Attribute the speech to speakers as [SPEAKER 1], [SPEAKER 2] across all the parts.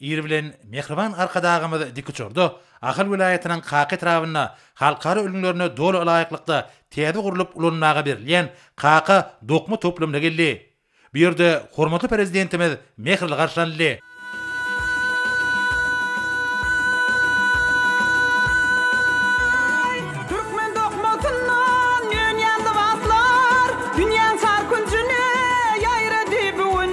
[SPEAKER 1] Ir bilen mähriban Arkadagymyz dikuçarda Ahal welaýatynyň Kaka etrabynda halkara ülňülerine doly ylaýyklykda täze gurlup ulanmaga berilýän Kaka dokma toplumyna geldi. Bu ýerde hormatly Prezidentimiz mähirli garşylanyldy. Türkmen dokmasyndan dünýä
[SPEAKER 2] lybaslar, Dünýäň çar künjüne ýaýrady bu gün.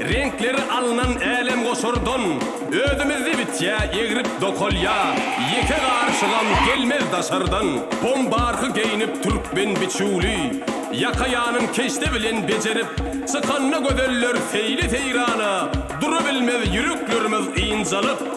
[SPEAKER 3] Reňkleri alnan älemgoşardan, Özümizde bitýä egrip dokalýa, Ýeke garyşygam gelmez daşardan. Bombarky geýnip türkmen biçüwli, Ýakaýanyn keşde bilen bejerip, Çykanda gözeller seýli-seýrana, Durabilmez ýüreklerimiz ynjalyp.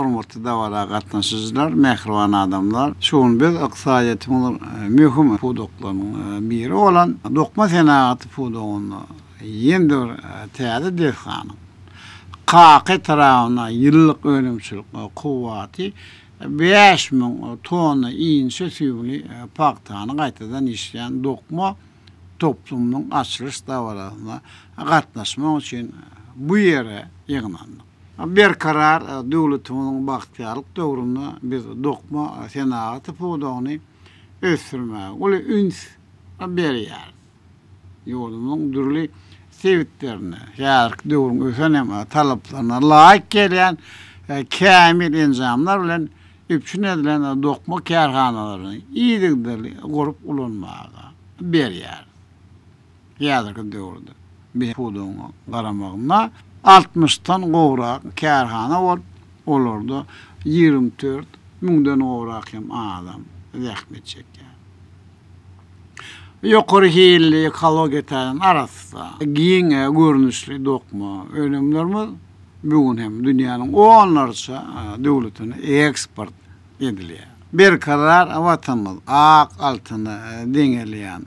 [SPEAKER 4] Hormatly dabara gatnaşyjylar, mähriban adamlar! Şu gün biz ykdysadyýetimiziň möhüm pudaklarynyň biri bolan dokma senagaty pudagynda Ýeňňe bir täze desganyň Kaka etrabynda ýyllyk önümçilik kuwwaty bäş müň tonna inçe süýümli pagtany gaýtadan işleýän dokma toplumynyň açylyş dabarasyna gatnaşmak üçin bu ýere ýygnandyk. Berkarar döwletimiziň bagtyýarlyk döwründe biz dokma senagaty pudagyny ösdürmäge uly üns berýäris. Ýurdumyzyň dürli sebitlerinde häzirki döwrüň ösen hem talaplaryna laýyk gelýän kämil enjamlar bilen üpjün edilen dokma kärhanalaryny yzygiderli gurup ulanmaga berýär. Häzirki döwürde biz pudagyň garamagynda altmyşdan gowrak kärhana bolup, olarda ýigrimi dört müňden gowrak hem adam zähmet çekýär. Ýokary hilli, ekologiýa taýdan arassa, giň görnüşli dokma önümlerimiz bu gün hem dünýäniň onlarça döwletine eksport edilýär. Berkarar Watanymyz ak altyna deňelýän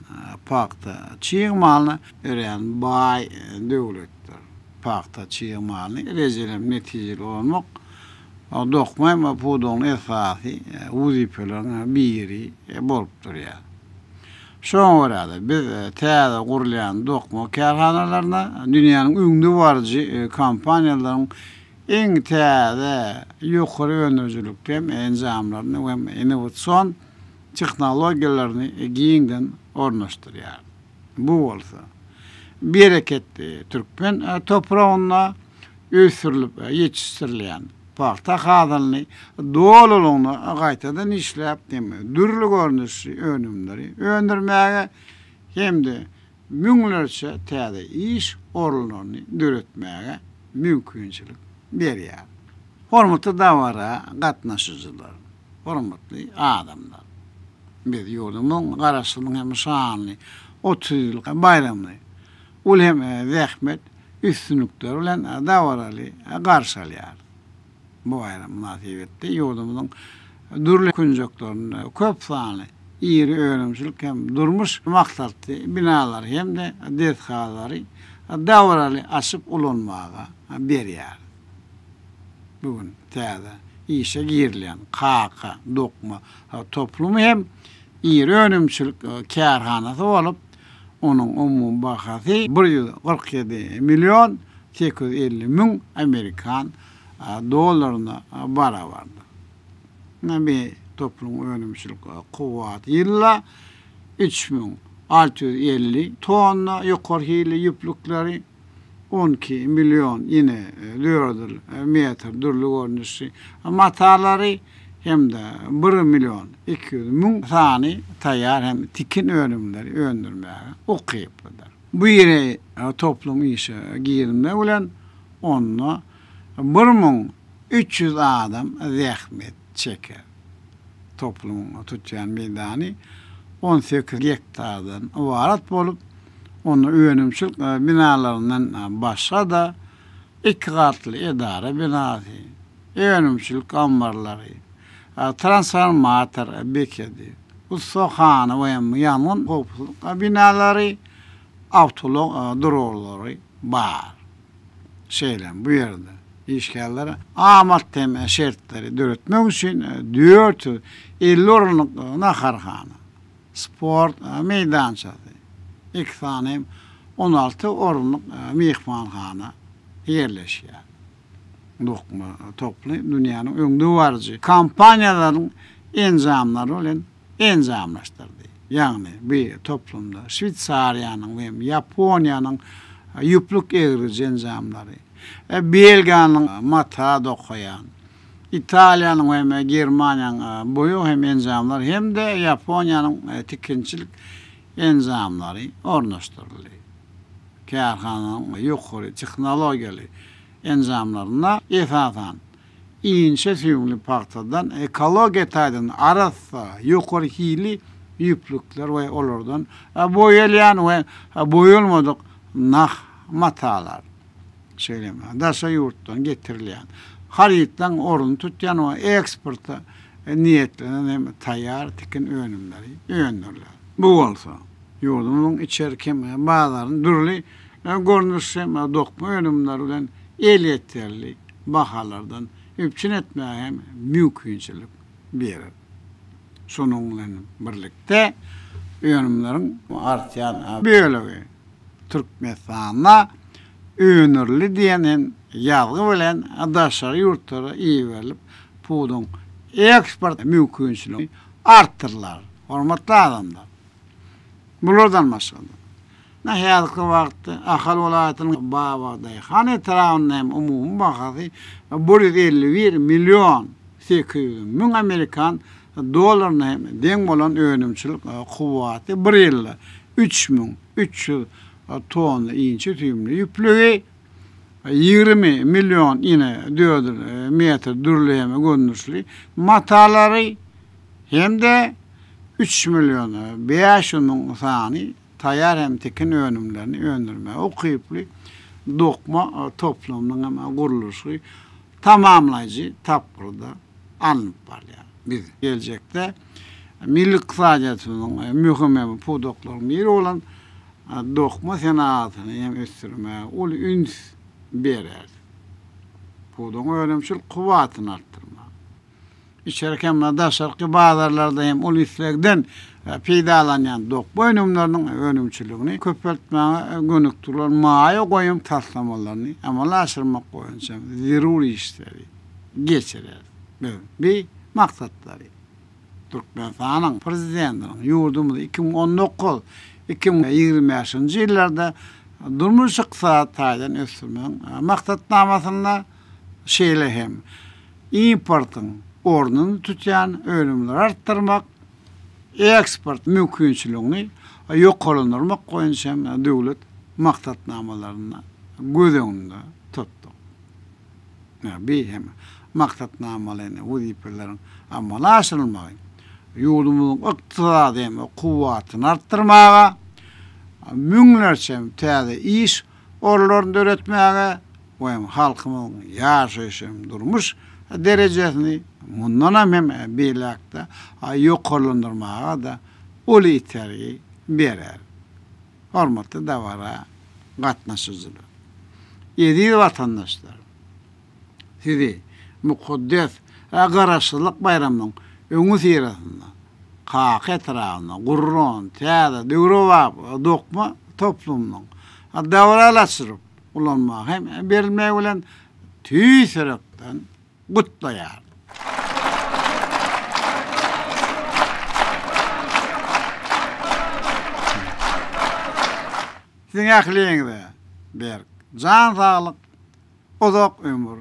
[SPEAKER 4] pagta çig malyna örän baý döwletdir. Pagta çig malyny rejeli hem netijeli ulanmak Dokma pudagynyň esasy wezipeleriň biri bolup durýar. Şoňa görä-de, biz täze gurulýan dokma kärhanalaryna dünýäniň öňdebaryjy kompaniýalaryň iň täze, ýokary öndürijilikli enjamlaryny we innowasion tehnologiýalaryny giňden ornaşdyrýarys. Bu bolsa, bereketli türkmen topragynda ösdürilip ýetişdirilýän pagta hasylyny dolulygyna gaýtadan işläp hem dürli görnüşli önümleri öndürmäge hem-de müňlerçe täze iş orunlaryny döretmäge mümkinçilik berýär. Hormatly dabara gatnaşyjylar, hormatly adamlar! Biz ýurdumyzyň Garaşsyzlygynyň hem şanly otuz ýyllyk baýramyny uly hem zähmet, üstünlikleri bilen dabaraly garşy alýar. Bu baýram mynasybetli ýurdumyzyň dürli künjeklerinde köp sanly iri önümçilik hem durmuş maksatly binalary hem-de desgalary dabaraly açyp ulanmaga berýär. Bu gün täze işe girilýän Kaka dokma toplumy hem iri önümçilik kärhanasy bolup, Onuň umumy bahasy bir ýüz kyrk ýedi million sekiz ýüz elli müň amerikan dollaryna barabardyr. Nami topunyň önümçilik kuwwaty ýyla üç müň alty ýüz elli tonna ýokary hilli ýüplükleri, On iki million ine dördül metr dürli görnüşli matalary hem-de bir million iki ýüz müň sany taýýar hem tikin önümleri öndürmäge ukyplydyr. Bu iri toplum işe girizmek bilen onda Bir müň üç ýüz adam zähmet çeker. Toplumyň tutýan meýdany on sekiz gektardan ybarat bolup, onda önümçilik binalaryndan başga-da iki gatly edara binasy, önümçilik ammarlary, transformator bekedi, ussahana we ýangyn howpsuzlyk binalary, awtoulag duralgary bar. şeýle hem bu ýerde işgärlere amat hem şertleri döretmek üçin dört ýüz elli orunlyk naharhana, sport meýdançasy, iki sany hem on alty orunlyk myhmanhana ýerleşýär. Dokma toplumy dünýäniň öňdebaryjy kompaniýalarynyň enjamlary bilen enjamlaşdyrdy. Ýagny bi toplumda Şweýsariýanyň we Ýaponiýanyň ýüplük egriji enjamlary, Belgiýanyň mata dokaýan, Italiýanyň hem Germaniýanyň boýag hem enjamlary hem-de Ýaponiýanyň tikinçilik enjamlary ornaşdyryldy. Kärhananyň ýokary tehnologiýaly enjamlarynda esasan, inçe süýümli pagtadan ekologiýa taýdan arassa, ýokary hilli ýüplükler we olardan boýalýan we boýalmadyk nah matalar, şeýle hem daşary ýurtdan getirilýän, harytlaryň ornuny tutýan we eksporta niýetlenen hem taýýar tikin önümleri öndüriler. Bu bolsa, ýurdumyzyň içerki hem bazaryny dürli görnüş hem dokma önümleri bilen elýeterli bahalardan üpjün etmäge hem mümkinçilik berer. Şonuň bilen birlikde, önümleriň artýan bölegi Türkmenistanda öndürildi diýen hem ýazgy bilen daşary ýurtlara iberilip, pudagyň eksport mümkinçiligi artdyrylar. Hormatly adamlar, bulardan başga-da, Ine, häzirki wagtda Ahal welaýatynyň Babadaýhan etrabynda hem umumy bahasy bir ýüz elli bir million sekiz ýüz müň amerikan dollaryna hem deň bolan önümçilik kuwwaty bir ýylda üç müň üç ýüz tonna inçe süýümli ýüplügi, ýigrimi million ine dördül metr dürli hem görnüşli matalary hem-de üç million bäş ýüz müň sany taýýar hem tikin önümlerini öndürmäge ukyply dokma toplumynyň hem gurluşygy tamamlaýjy tapgyrda alnyp barylýar. Biz geljekde milli ykdysadyýetimiziň möhüm hem pudaklarynyň biri bolan dokma senagatyny hem ösdürmäge uly üns bereris. Pudagyň önümçilik kuwwatyny artdyrmak. Içerki hem-de daşarky bazarlarda hem uly islegden peýdalanýan dokma önümleriniň önümçiligini köpeltmäge gönükdirilen maýa goýum taslamalaryny amala aşyrmak boýunça zerur işleri geçireris. Biz bu maksatlary Türkmenistanyň Prezidentiniň ýurdumyzy iki müň on dokuz, iki müň ýigrimi bäşinji ýyllarda durmuş-ykdysady taýdan ösdürmegiň Maksatnamasynda, şeýle hem importyň ornuny tutýan önümleri artdyrmak, eksport mümkinçiligini ýokarlandyrmak boýunça döwlet maksatnamalaryny göz öňünde tutduk. Bi hem maksatnamaly wezipeleriň amala aşyrylmagy ýurdumyzyň ykdysady kuwwatyny artdyrmaga, müňlerçe täze iş orunlaryny döretmäge we hem halkymyzyň ýaşaýyş hem durmuş derejesini mundanam hem beýläk-de ýokarlandyrmaga-da uly itergi berer. Hormatly dabara gatnaşyjylar! Eziz watandaşlarym! Sizi mukaddes we Garaşsyzlyk baýramynyň öňüsyrasynda Kaka etrabynyň Gurran täze döwrebap dokma toplumynyň dabaralaşdyryp ulanmaga hem berilmegi bilen tüýs ýürekden gutlaýaryn. Siziň ähliňize berk jan saglyk, Uzak ömür,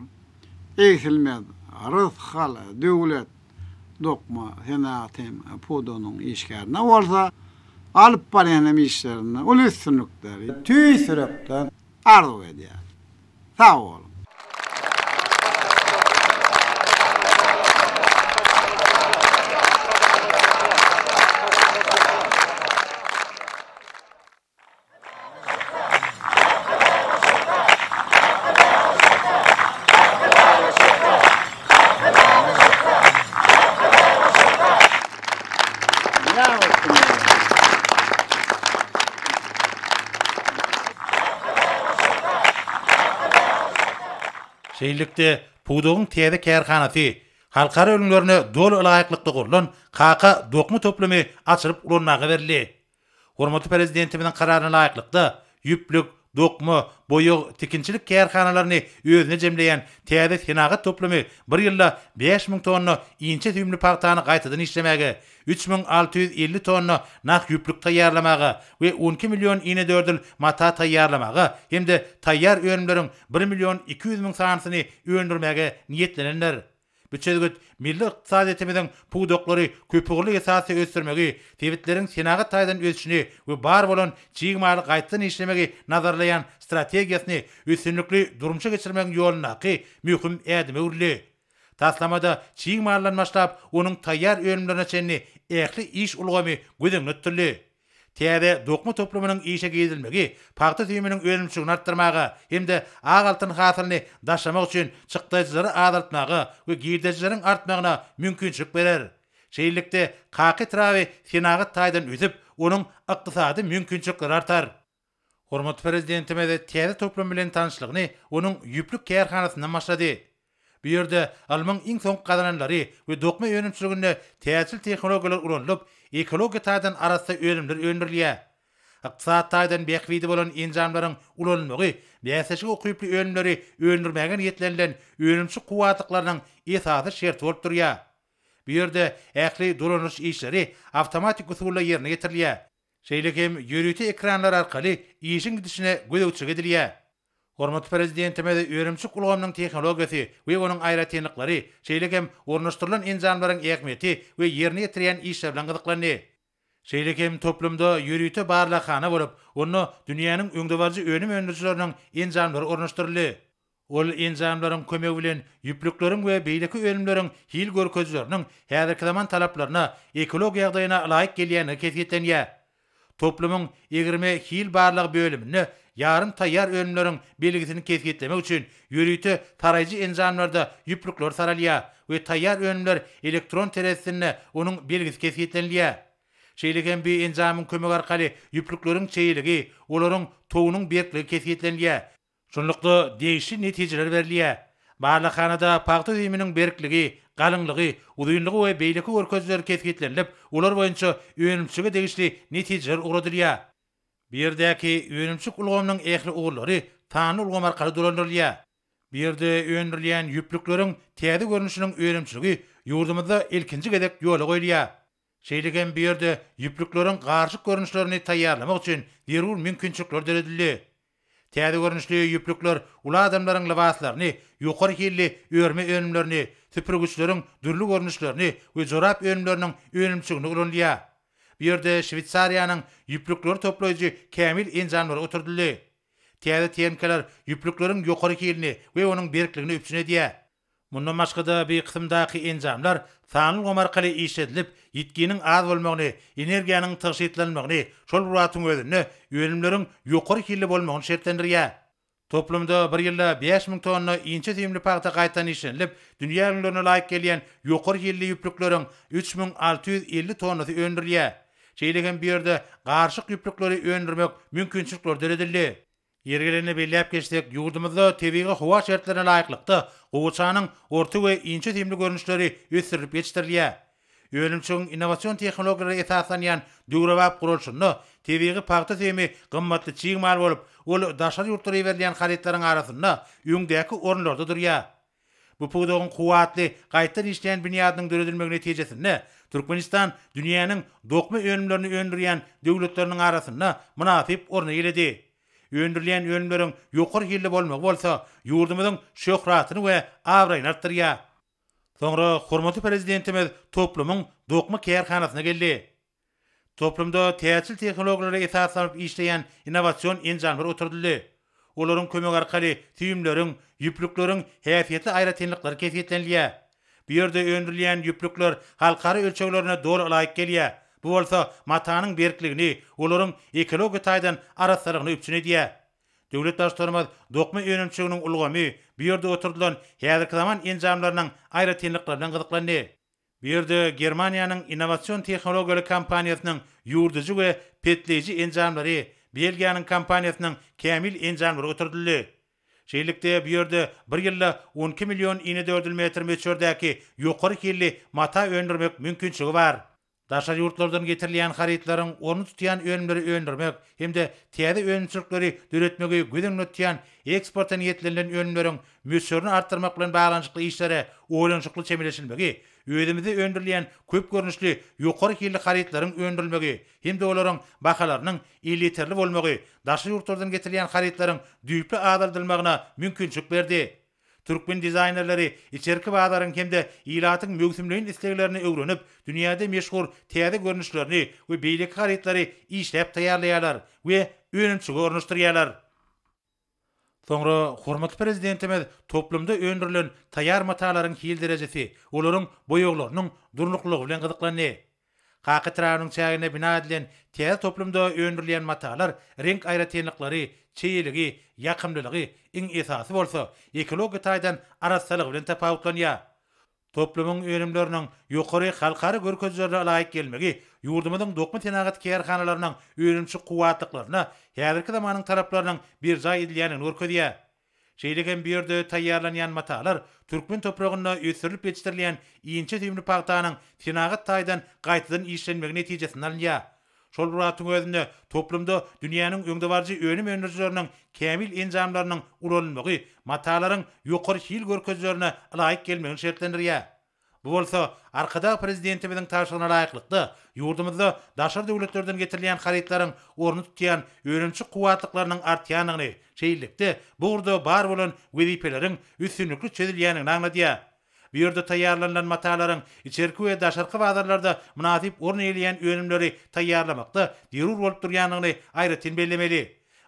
[SPEAKER 4] egsilmez rysgal, döwlet, dokma senagat hem pudagynyň işgärine bolsa alyp barýan hem işlerinde uly üstünlikleri tüýs ýürekden arzuw edýärin. Sag boluň!
[SPEAKER 1] Şeýlelikde, pudagyň täze kärhanasy, halkara ülňülerine doly laýyklykda gurlan Kaka dokma toplumy açylyp ulanmaga berildi. Hormatly Prezidentimiziň Kararyna laýyklykda, ýüplük, dokma, boýag, tikinçilik kärhanalaryny özüne jemleýän täze senagat toplumy bir ýylda bäş müň tonna inçe süýümli pagtany gaýtadan işlemäge, üç müň alty ýüz elli tonna nah ýüplük taýýarlamaga we on iki million inedördül mata taýýarlamaga hem-de taýýar önümleriň bir million iki ýüz müň sanysyny öndürmäge niýetlenendir. Bu çözgüt milli ykdysadyýetimiziň pudaklary köpugurly esasda ösdürmegi, sebitleriň senagat taýdan ösüşini we bar bolan çig maly gaýtadan işlemegi nazarlaýan strategiýasyny üstünlikli durmuşa geçirmegiň ýolundaky möhüm ädime öwrüldi. Taslamada çig maldan başlap, onuň taýýar önümlerine çenli ähli iş ulgamy göz öňünde tutuldy. Täze dokma toplumynyň işe girizilmegi pagta süýüminiň önümçiligini artdyrmaga hem-de ak altyn hasylyny daşamak üçin çykdajylary azaltmaga we girdejileriň artmagyna mümkinçilik berer. Şeýlelikde, kaka etraby senagat taýdan ösüp, onuň ykdysady mümkinçilikleri artar. Hormatly Prezidentimiz täze toplum bilen tanyşlygyny onuň ýüplük kärhanasyndan başlady. Bu ýerde ylmyň iň soňky gazananlary we dokma önümçiliginde täjir tehnologiýalar ulanylyp, ekologiýa taýdan arassa önümler öndürilýär. Ykdysady taýdan bähbidi bolan enjamlaryň ulanylmagy bäsleşige ukyply önümleri öndürmäge niýetlenilen önümçi kuwwatlyklarynyň esasy şerti bolup durýar. Bu ýerde ähli dolandyryş işleri awtomatik usulda ýerine ýetirilýär. Şeýle hem ýörite ekranlar arkaly işiň gidişine gözegçilik edilýär. Hormatly Prezidentimiz önümçilik ulgamynyň tehnologiýasy we onuň aýratynlyklary, şeýle hem ornaşdyrylan enjamlaryň ähmiýeti we ýerine ýetirýän işler bilen gyzyklandy. Şeýle hem toplumda ýörite barlaghana bolup, onda dünýäniň öňdebaryjy önüm öndürijileriniň enjamlary ornaşdyryldy. Ol enjamlaryň kömegi bilen ýüplükleriň we beýleki önümleriň hil görkezijileriniň häzirki zaman talaplaryna, ekologik ýagdaýyna ylaýyk gelýändigi kesgitlenýär. Toplumyň egirme-hil barlagy bölüminde ýarym taýýar önümleriň belgisini kesgitlemek üçin ýörite saraýjy enjamlarda ýüplükler saralýar we taýýar önümler elektron terezisinde onuň belgisi kesgitlenilýär. Şeýle hem bi enjamyň kömegi arkaly ýüplükleriň çeýeligi, olaryň togunyň berkligi kesgitlenilýär. Şunlukda, degişli netijeler berilýär. Barlaghanada pagta öýüminiň berkligi, galyňlygy, uzynlygy we beýleki görkezijiler kesgitlenilip, olar boýunça önümçilige degişli netijeler ugradylýar. Bu ýerdäki önümçilik ulgamynyň ähli ugurlary sanly ulgam arkaly dolandyrylýar. Bu ýerde öndürilýän ýüplükleriň täze görnüşiniň önümçiligi ýurdumyzda ilkinji gezek ýola goýulýar. Şeýle hem bu ýerde ýüplükleriň garyşyk görnüşlerini taýýarlamak üçin zerur mümkinçilikler döredildi. Täze görnüşli ýüplükler uly adamlaryň lybaslaryny, ýokary hilli örme önümlerini, süpürgiçleriň dürli görnüşlerini we jorap önümleriniň önümçiliginde ulanylýar. Bu ýerde Şweýsariýanyň ýüplükleri toplaýjy kämil enjamlary oturdyldy. Täze TNK-ler ýüplükleriň ýokary hilini we onuň berkligini üpjün edýär. Mundan başga-da bi kysymdaky enjamlar sanly ulgam arkaly işledilip, ýitginiň az bolmagyny, energiýanyň tygşytlanmagyny, şol bir wagtyň özünde önümleriň ýokary hilli bolmagyny şertlendirýär. Toplumda bir ýylda bäş müň tonna inçe süýümli pagta gaýtadan işlenilip, dünýä ülňülerine laýyk gelýän ýokary hilli ýüplükleriň üç müň alty ýüz elli tonnasy öndürilýär. Şeýle hem bu ýerde garyşyk ýüplükleri öndürmek mümkinçilikleri döredildi. Ýeri gelende belläp geçsek, ýurdumyzda tebigy howa şertlerine laýyklykda, gowaçanyň orta we inçe simli görnüşleri ösdürilip ýetişdirilýär. Önümçiligiň innowasion tehnologiýalara esaslanýan döwrebap guralşynda tebigy pagta simi gymmatly çig mal bolup, ol daşary ýurtlara iberilýän harytlaryň arasynda öňdäki orunlarda durýar. Bu pudagyň kuwwatly, gaýtdan işleýän binýadynyň döredilmegi netijesinde, Türkmenistan dünýäniň dokma önümlerini öndürýän döwletleriniň arasynda mynasyp orny eýeledi. Öndürilýän önümleriň ýokary hilli bolmagy bolsa, ýurdumyzyň şöhratyny we abraýyny artdyrýar. Soňra hormatly Prezidentimiz toplumyň dokma kärhanasyna geldi. Toplumda täjirçilik tehnologiýalara esaslanyp işleýän innowasion enjamlar oturdyldy. Olaryň kömegi arkaly süýümleriň, ýüplükleriň häsiýetli aýratynlyklary kesgitlenilýär. Bu ýerde öndürilýän ýüplükler halkara ölçeglerine doly laýyk gelýär, bu bolsa matanyň berkligini, olaryň ekologiýa taýdan arassalygyny üpjün edýär. Döwlet Baştutanymyz dokma önümçiliginiň ulgamy, bu ýerde oturdylan häzirki zaman enjamlarynyň aýratynlyklary bilen gyzyklandy. Bu ýerde Germaniýanyň innowasion tehnologiýaly kompaniýasynyň ýuwudyjy we petleýji enjamlary, Belgiýanyň kompaniýasynyň kämil enjamlary oturdyldy. Şeýlelikde, bu ýerde bir ýylda on iki million inedördül metr möçberdäki ýokary hilli mata öndürmek mümkinçiligi bar. Daşary ýurtlardan getirilýän harytlaryň ornuny tutýan önümleri öndürmek hem-de täze önümçilikleri döretmegi göz öňünde tutýan eksporta niýetlenilen önümleriň möçberini artdyrmak bilen baglanyşykly işlere oýlanyşykly çemeleşilmegi, özümizde öndürilýän köp görnüşli ýokary hilli harytlaryň öndürilmegi hem-de olaryň bahalarynyň elýeterli bolmagy daşary ýurtlardan getirilýän harytlaryň düýpli azaldylmagyna mümkinçilik berdi. Türkmen dizaýnerleri içerki bazaryň hem-de ilatyň möwsümleýin isleglerini öwrenip, dünýäde meşhur täze görnüşlerini we beýleki harytlary işläp taýýarlaýarlar we önümçige ornaşdyrýarlar. Soňra hormatly Prezidentimiz toplumda öndürilen taýýar matalaryň hil derejesi, olaryň boýaglarynyň durnuklylygy bilen gyzyklandy. Kaka etrabynyň çäginde bina edilen täze toplumda öndürilýän matalar reňk aýratynlyklary, çeýeligi, ýakymlylygy, iň esasy bolsa, ekologiýa taýdan arassalygy bilen tapawutlanýar. Toplumyň önümleriniň ýokary halkara görkezilerine laýyk gelmegi ýurdumyzyň dokma senagat kärhanalarynyň önümçi kuwwatlyklaryna häzirki zamanyň talaplarynyň berjaý edilýändigini görkezýär. Şeýle hem bu ýerde taýýarlanýan matalar türkmen topragynda ösdürilip ýetişdirilýän inçe süýümli pagtanyň senagat taýdan gaýtadan işlenmegi netijesinde alynýar. Şol bir wagtyň özünde, toplumda dünýäniň öňdebaryjy önüm öndürijileriniň kämil enjamlarynyň ulanylmagy matalaryň ýokary hil görkezilerine ylaýyk gelmegini şertlendirýär. Bu bolsa, Arkadag Prezidentimiziň tabşyrygyna laýyklykda, ýurdumyzda daşary döwletlerden getirilýän harytlaryň ornuny tutýan önümçi kuwwatlyklarynyň artýandygyny, şeýlelikde, bu ugurda bar bolan wezipeleriň üstünlikli çözülýändigini aňladýar. Bu ýerde taýýarlanylan matalaryň içerki we daşarky bazarlarda mynasyp orun eýeleýän önümleri taýýarlamakda zerur bolup durýandygyny aýratyn bellemeli.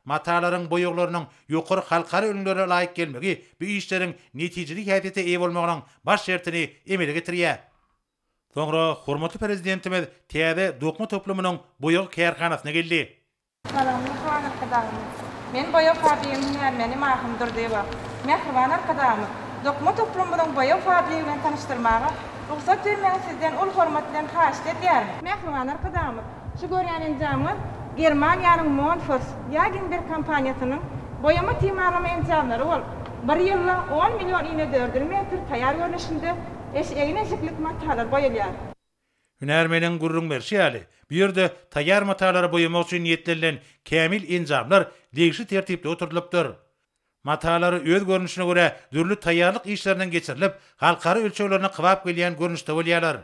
[SPEAKER 1] Matalaryň boýaglarynyň ýokary halkara ülňülere laýyk gelmegi bu işleriň netijeli häsiýete eýe bolmagynyň baş şertini emele getirýär. Soňra hormatly Prezidentimiz täze dokma toplumynyň boýag kärhanasyna geldi. Salam Mähriban Arkadagymyz.
[SPEAKER 5] Men boýag fabrigiň hünärmeni Mahym Durdyýewa. Mähriban Arkadagymyz, dokma toplumymyzyň boýag fabrigi bilen tanyşdyrmaga rugsat bermegiňi sizden uly hormat bilen haýyşt edýärin. Mähriban Arkadagymyz, şu görýän enjamyňyz Germaniýanyň Monfors, Ýaginberg kompaniýasynyň boýama timarlama enjamlary bolup, bir ýylda on million inedördül metr taýýar görnüşinde eş egin-eşiklik matalar boýalýar. Hünärmeniň
[SPEAKER 1] gürrüň berşi ýaly, bu ýerde taýýar matalary boýamak üçin niýetlenilen kämil enjamlar degişli tertipde oturdylypdyr. Matalar öz görnüşine görä dürli taýýarlyk işlerinden geçirilip, halkara ölçeglerine kybap gelýän görnüşde bolýarlar.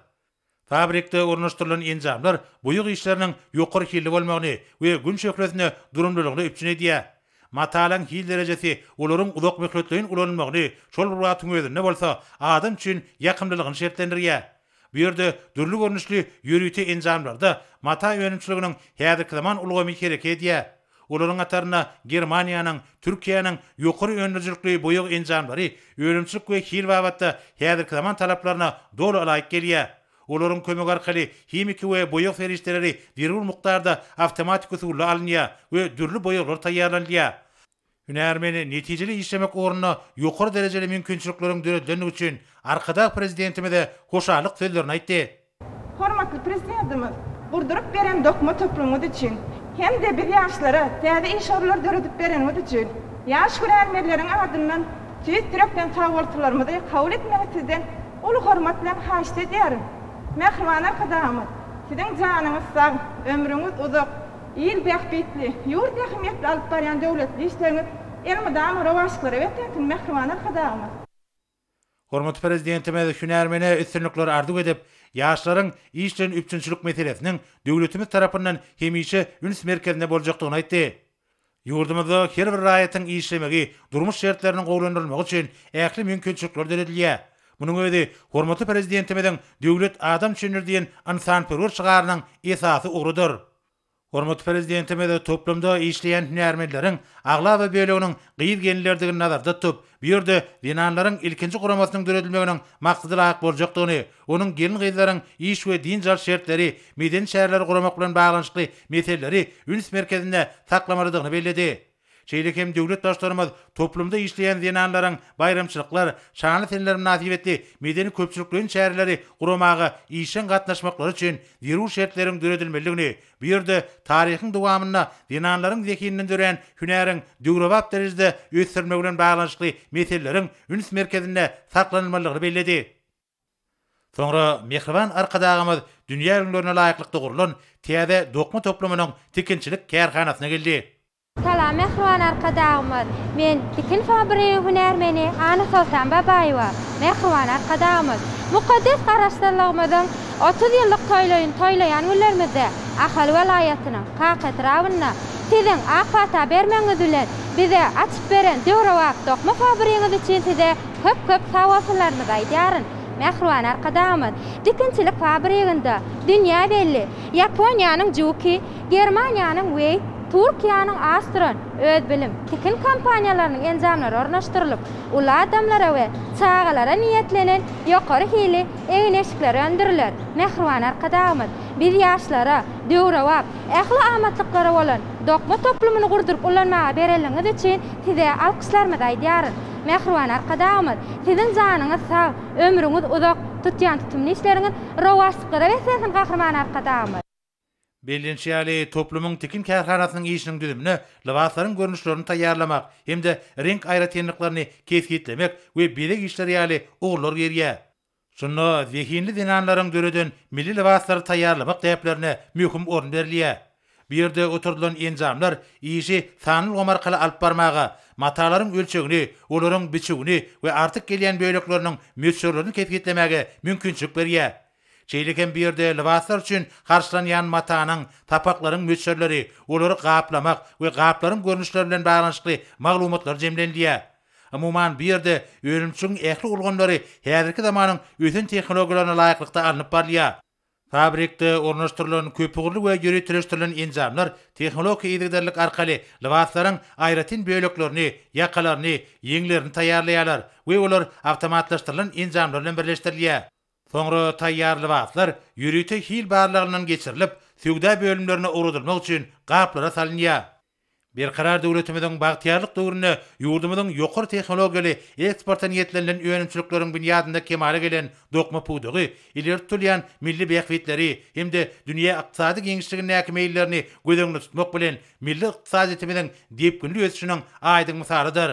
[SPEAKER 1] Fabrikde ornaşdyrylan enjamlar boýag işleriniň ýokary hilli bolmagyny we Gün şöhlesinde durumlylygyny üpjün edýär. Matalaryň hil derejesi olaryň uzakmöhletleýin ulanylmagyny, şol bir wagtyň özünde bolsa, adam üçin ýakymlylygyny şertlendirýär. Bu ýerde dürli görnüşli ýörite enjamlarda mata önümçiliginiň häzirki zaman ulgamy hereket edýär. Olaryň hatarynda Germaniýanyň, Türkiýäniň ýokary öndürijilikli boýag enjamlary önümçilik we hil babatda häzirki zaman talaplaryna doly laýyk gelýär. Olaryň kömegi arkaly himiki we boýag serişdeleri zerur mukdarda awtomatik usulda alynýar we dürli boýaglar taýýarlanylýar. Hünärmeni netijeli işlemek ugrunda ýokary derejeli mümkinçilikleriň döredilendigi üçin Arkadag Prezidentimize hoşallyk sözlerini aýtdy. Hormatly
[SPEAKER 5] Prezidentimiz gurduryp beren dokma toplumyňyz üçin hem-de biz ýaşlara täze iş orunlary döredip bereniňiz üçin ýaş hünärmenleriň adyndan tüýs ýürekden sagbolsularymyzy kabul etmegiňizi sizden uly hormat bilen haýyşt edýärin. Mähriban Arkadagymyz, Siziň janyňyz sag, ömrüňiz uzak, Il bähbitli, ýurt ähmiýetli alyp barýan döwletli işleriňiz elmydama rowaçlyklara betensin, mähriban Arkadagymyz!
[SPEAKER 1] Hormatly Prezidentimiz hünärmene üstünlikler arzuw edip, ýaşlaryň iş bilen üpjünçilik meselesiniň döwletimiz tarapyndan hemişe üns merkezinde boljakdygyny aýtdy. Ýurdumyzda her bir raýatyň işlemegi, durmuş şertleriniň gowulandyrylmagy üçin ähli mümkinçilikler döredilýär. Munuň özi hormatly Prezidentimiziň Döwlet adam üçindir diýen ynsanperwer şygarynyň esasy ugrudyr. Hormatly Prezidentimiz toplumda işleýän hünärmenleriň aglaba böleginiň gyz-gelinlerdigini nazarda tutup, Bu ýerde zenanlaryň ilkinji guramasynyň döredilmeginiň maksada laýyk boljakdygyny, onuň gelin-gyzlaryň iş we dynç alyş şertleri, medeni çäreleri guramak bilen baglanyşykly meseleleri üns merkezinde saklamalydygyny belledi. Şeýle hem döwlet Baştutanymyz toplumda işleýän zenanlaryň baýramçylyklar, şanly seneler mynasybetli medeni-köpçülikleýin çäreleri guramaga işjeň gatnaşmaklary üçin zerur şertleriň döredilmelidigini Bu ýerde taryhyň dowamynda zenanlaryň zehininden dörän hünäriň döwrebap derejede ösdürilmegi bilen baglanyşykly meseleleriň üns merkezinde saklanylmalydygyny belledi. Soňra mähriban Arkadagymyz dünýä ülňülerine laýyklykda gurlan täze dokma toplumynyň tikinçilik kärhanasyna geldi. Salam mähriban
[SPEAKER 6] Arkadagymyz! Men tikin fabrigi hünärmeni Anna Soltan Babaýewa. Mähriban Arkadagymyz! Mukaddes Garaşsyzlygymyzyň otuz ýyllyk toýlaýyny toýlaýan günlerimizde Ahal welaýatynyň Kaka etrabynda Siziň ak pata bermegiňiz bilen bize açyp beren döwrebap dokma fabrigiňiz üçin Size köp-köp sagbolsunlarymyzy aýdýaryn. Mähriban Arkadagymyz! Tikinçilik fabriginde dünýä belli Ýaponiýanyň Juki Germaniýanyň we Türkiýäniň Astron, Özbilim, Tikin kompaniýalarynyň enjamlary ornaşdyrylyp, uly adamlara we çagalara niýetlenen ýokary hili egin-eşikler öndüriler. Mähriban Arkadagymyz biz ýaşlara döwrebap, ähli amatlyklara bolan dokma toplumyny gurduryp ulanmaga berenligiňiz üçin Size alkyşlarymyzy aýdýarys. Mähriban Arkadagymyz Siziň janyňyz sag, ömrüňiz uzak, tutýan tutumly işleriňiz rowaçlyklara beslensin Gahryman Arkadagymyz! Bellenişi
[SPEAKER 1] ýaly, toplumyň tikin kärhanasynyň işiniň düzümine lybaslaryň görnüşlerini taýýarlamak hem-de reňk aýratynlyklaryny kesgitlemek we bezeg işleri ýaly ugurlar girýär. Şunda zehinli zenanlaryň döreden milli lybaslary taýýarlamak däplerine möhüm orun berilýär. Bu ýerde oturdylan enjamlar işi sanly ulgam arkaly alyp barmaga, matalaryň ölçegini, olaryň biçüwini we artyk gelýän bölekleriniň möçberlerini kesgitlemäge mümkinçilik berýär. Şeýle hem bu ýerde lybaslar üçin harçlanýan matanyň, sapaklaryň möçberleri, olary gaplamak we gaplaryň görnüşleri bilen baglanyşykly maglumatlar jemlenilýär. Umuman, bu ýerde önümçiligiň ähli ulgamlary häzirki zamanyň ösen tehnologiýalaryna laýyklykda alnyp barylýar. Fabrikde ornaşdyrylan köpugurly we ýöriteleşdirilen enjamlar tehnologik yzygiderlilik arkaly lybaslaryň aýratyn böleklerini, ýakalaryny, ýeňlerini taýýarlaýarlar we olar awtomatlaşdyrylan enjamlar bilen birleşdirilýär. Soňra taýýar lybaslar ýörite hil barlagyndan geçirilip, söwda bölümlerine ugradylmak üçin gaplara salynýar. Berkarar döwletimiziň bagtyýarlyk döwründe ýurdumyzyň ýokary tehnologiýaly, eksporta niýetlenilen önümçilikleriň binýadynda kemala gelen dokma pudagy ileri tutulýan milli bähbitleri hem-de dünýä ykdysady giňişligindäki meýillerini göz öňünde tutmak bilen, milli ykdysadyýetimiziň depginli ösüşiniň aýdyň mysalydyr.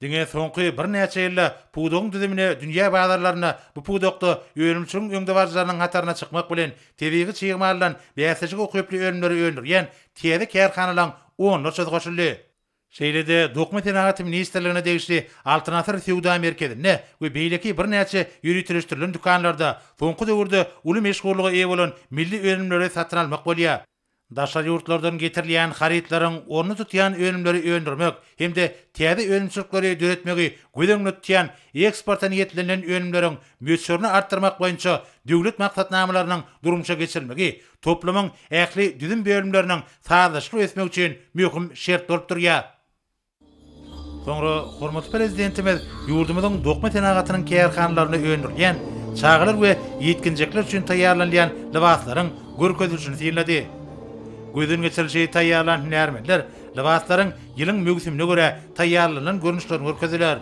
[SPEAKER 1] Diňe soňky birnäçe ýylda pudagyň düzümine dünýä bazarlarynda bu pudakda önümçiligiň öňdebaryjylarynyň hataryna çykmak bilen, tebigy çig maldan bäsleşige ukyply önümleri öndürýän täze kärhanalaryň onlarçasy goşuldy. Şeýle-de Dokma senagaty ministrligine degişli Altyn asyr söwda merkezinde we beýleki birnäçe ýöriteleşdirilen dükanlarda soňky döwürde uly meşhurlyga eýe bolan milli önümleri satyn almak bolýar. Daşary ýurtlardan getirilýän harytlaryň ornuny tutýan önümleri öndürmek hem-de täze önümçilikleri döretmegi göz öňünde tutýan eksporta niýetlenilen önümleriň möçberini artdyrmak boýunça döwlet maksatnamalarynyň durmuşa geçirilmegi toplumyň ähli düzüm bölümleriniň sazlaşykly ösmegi üçin möhüm şert bolup durýar. Soňra hormatly Prezidentimiz ýurdumyzyň dokma senagatynyň kärhanalarynda öndürilýän çagalar we ýetginjekler üçin taýýarlanylýan lybaslaryň görkezilişini synlady. Gözden geçirilişi taýýarlan hünärmenler lybaslaryň ýylyň möwsümine görä taýýarlanylan görnüşlerini görkezdiler.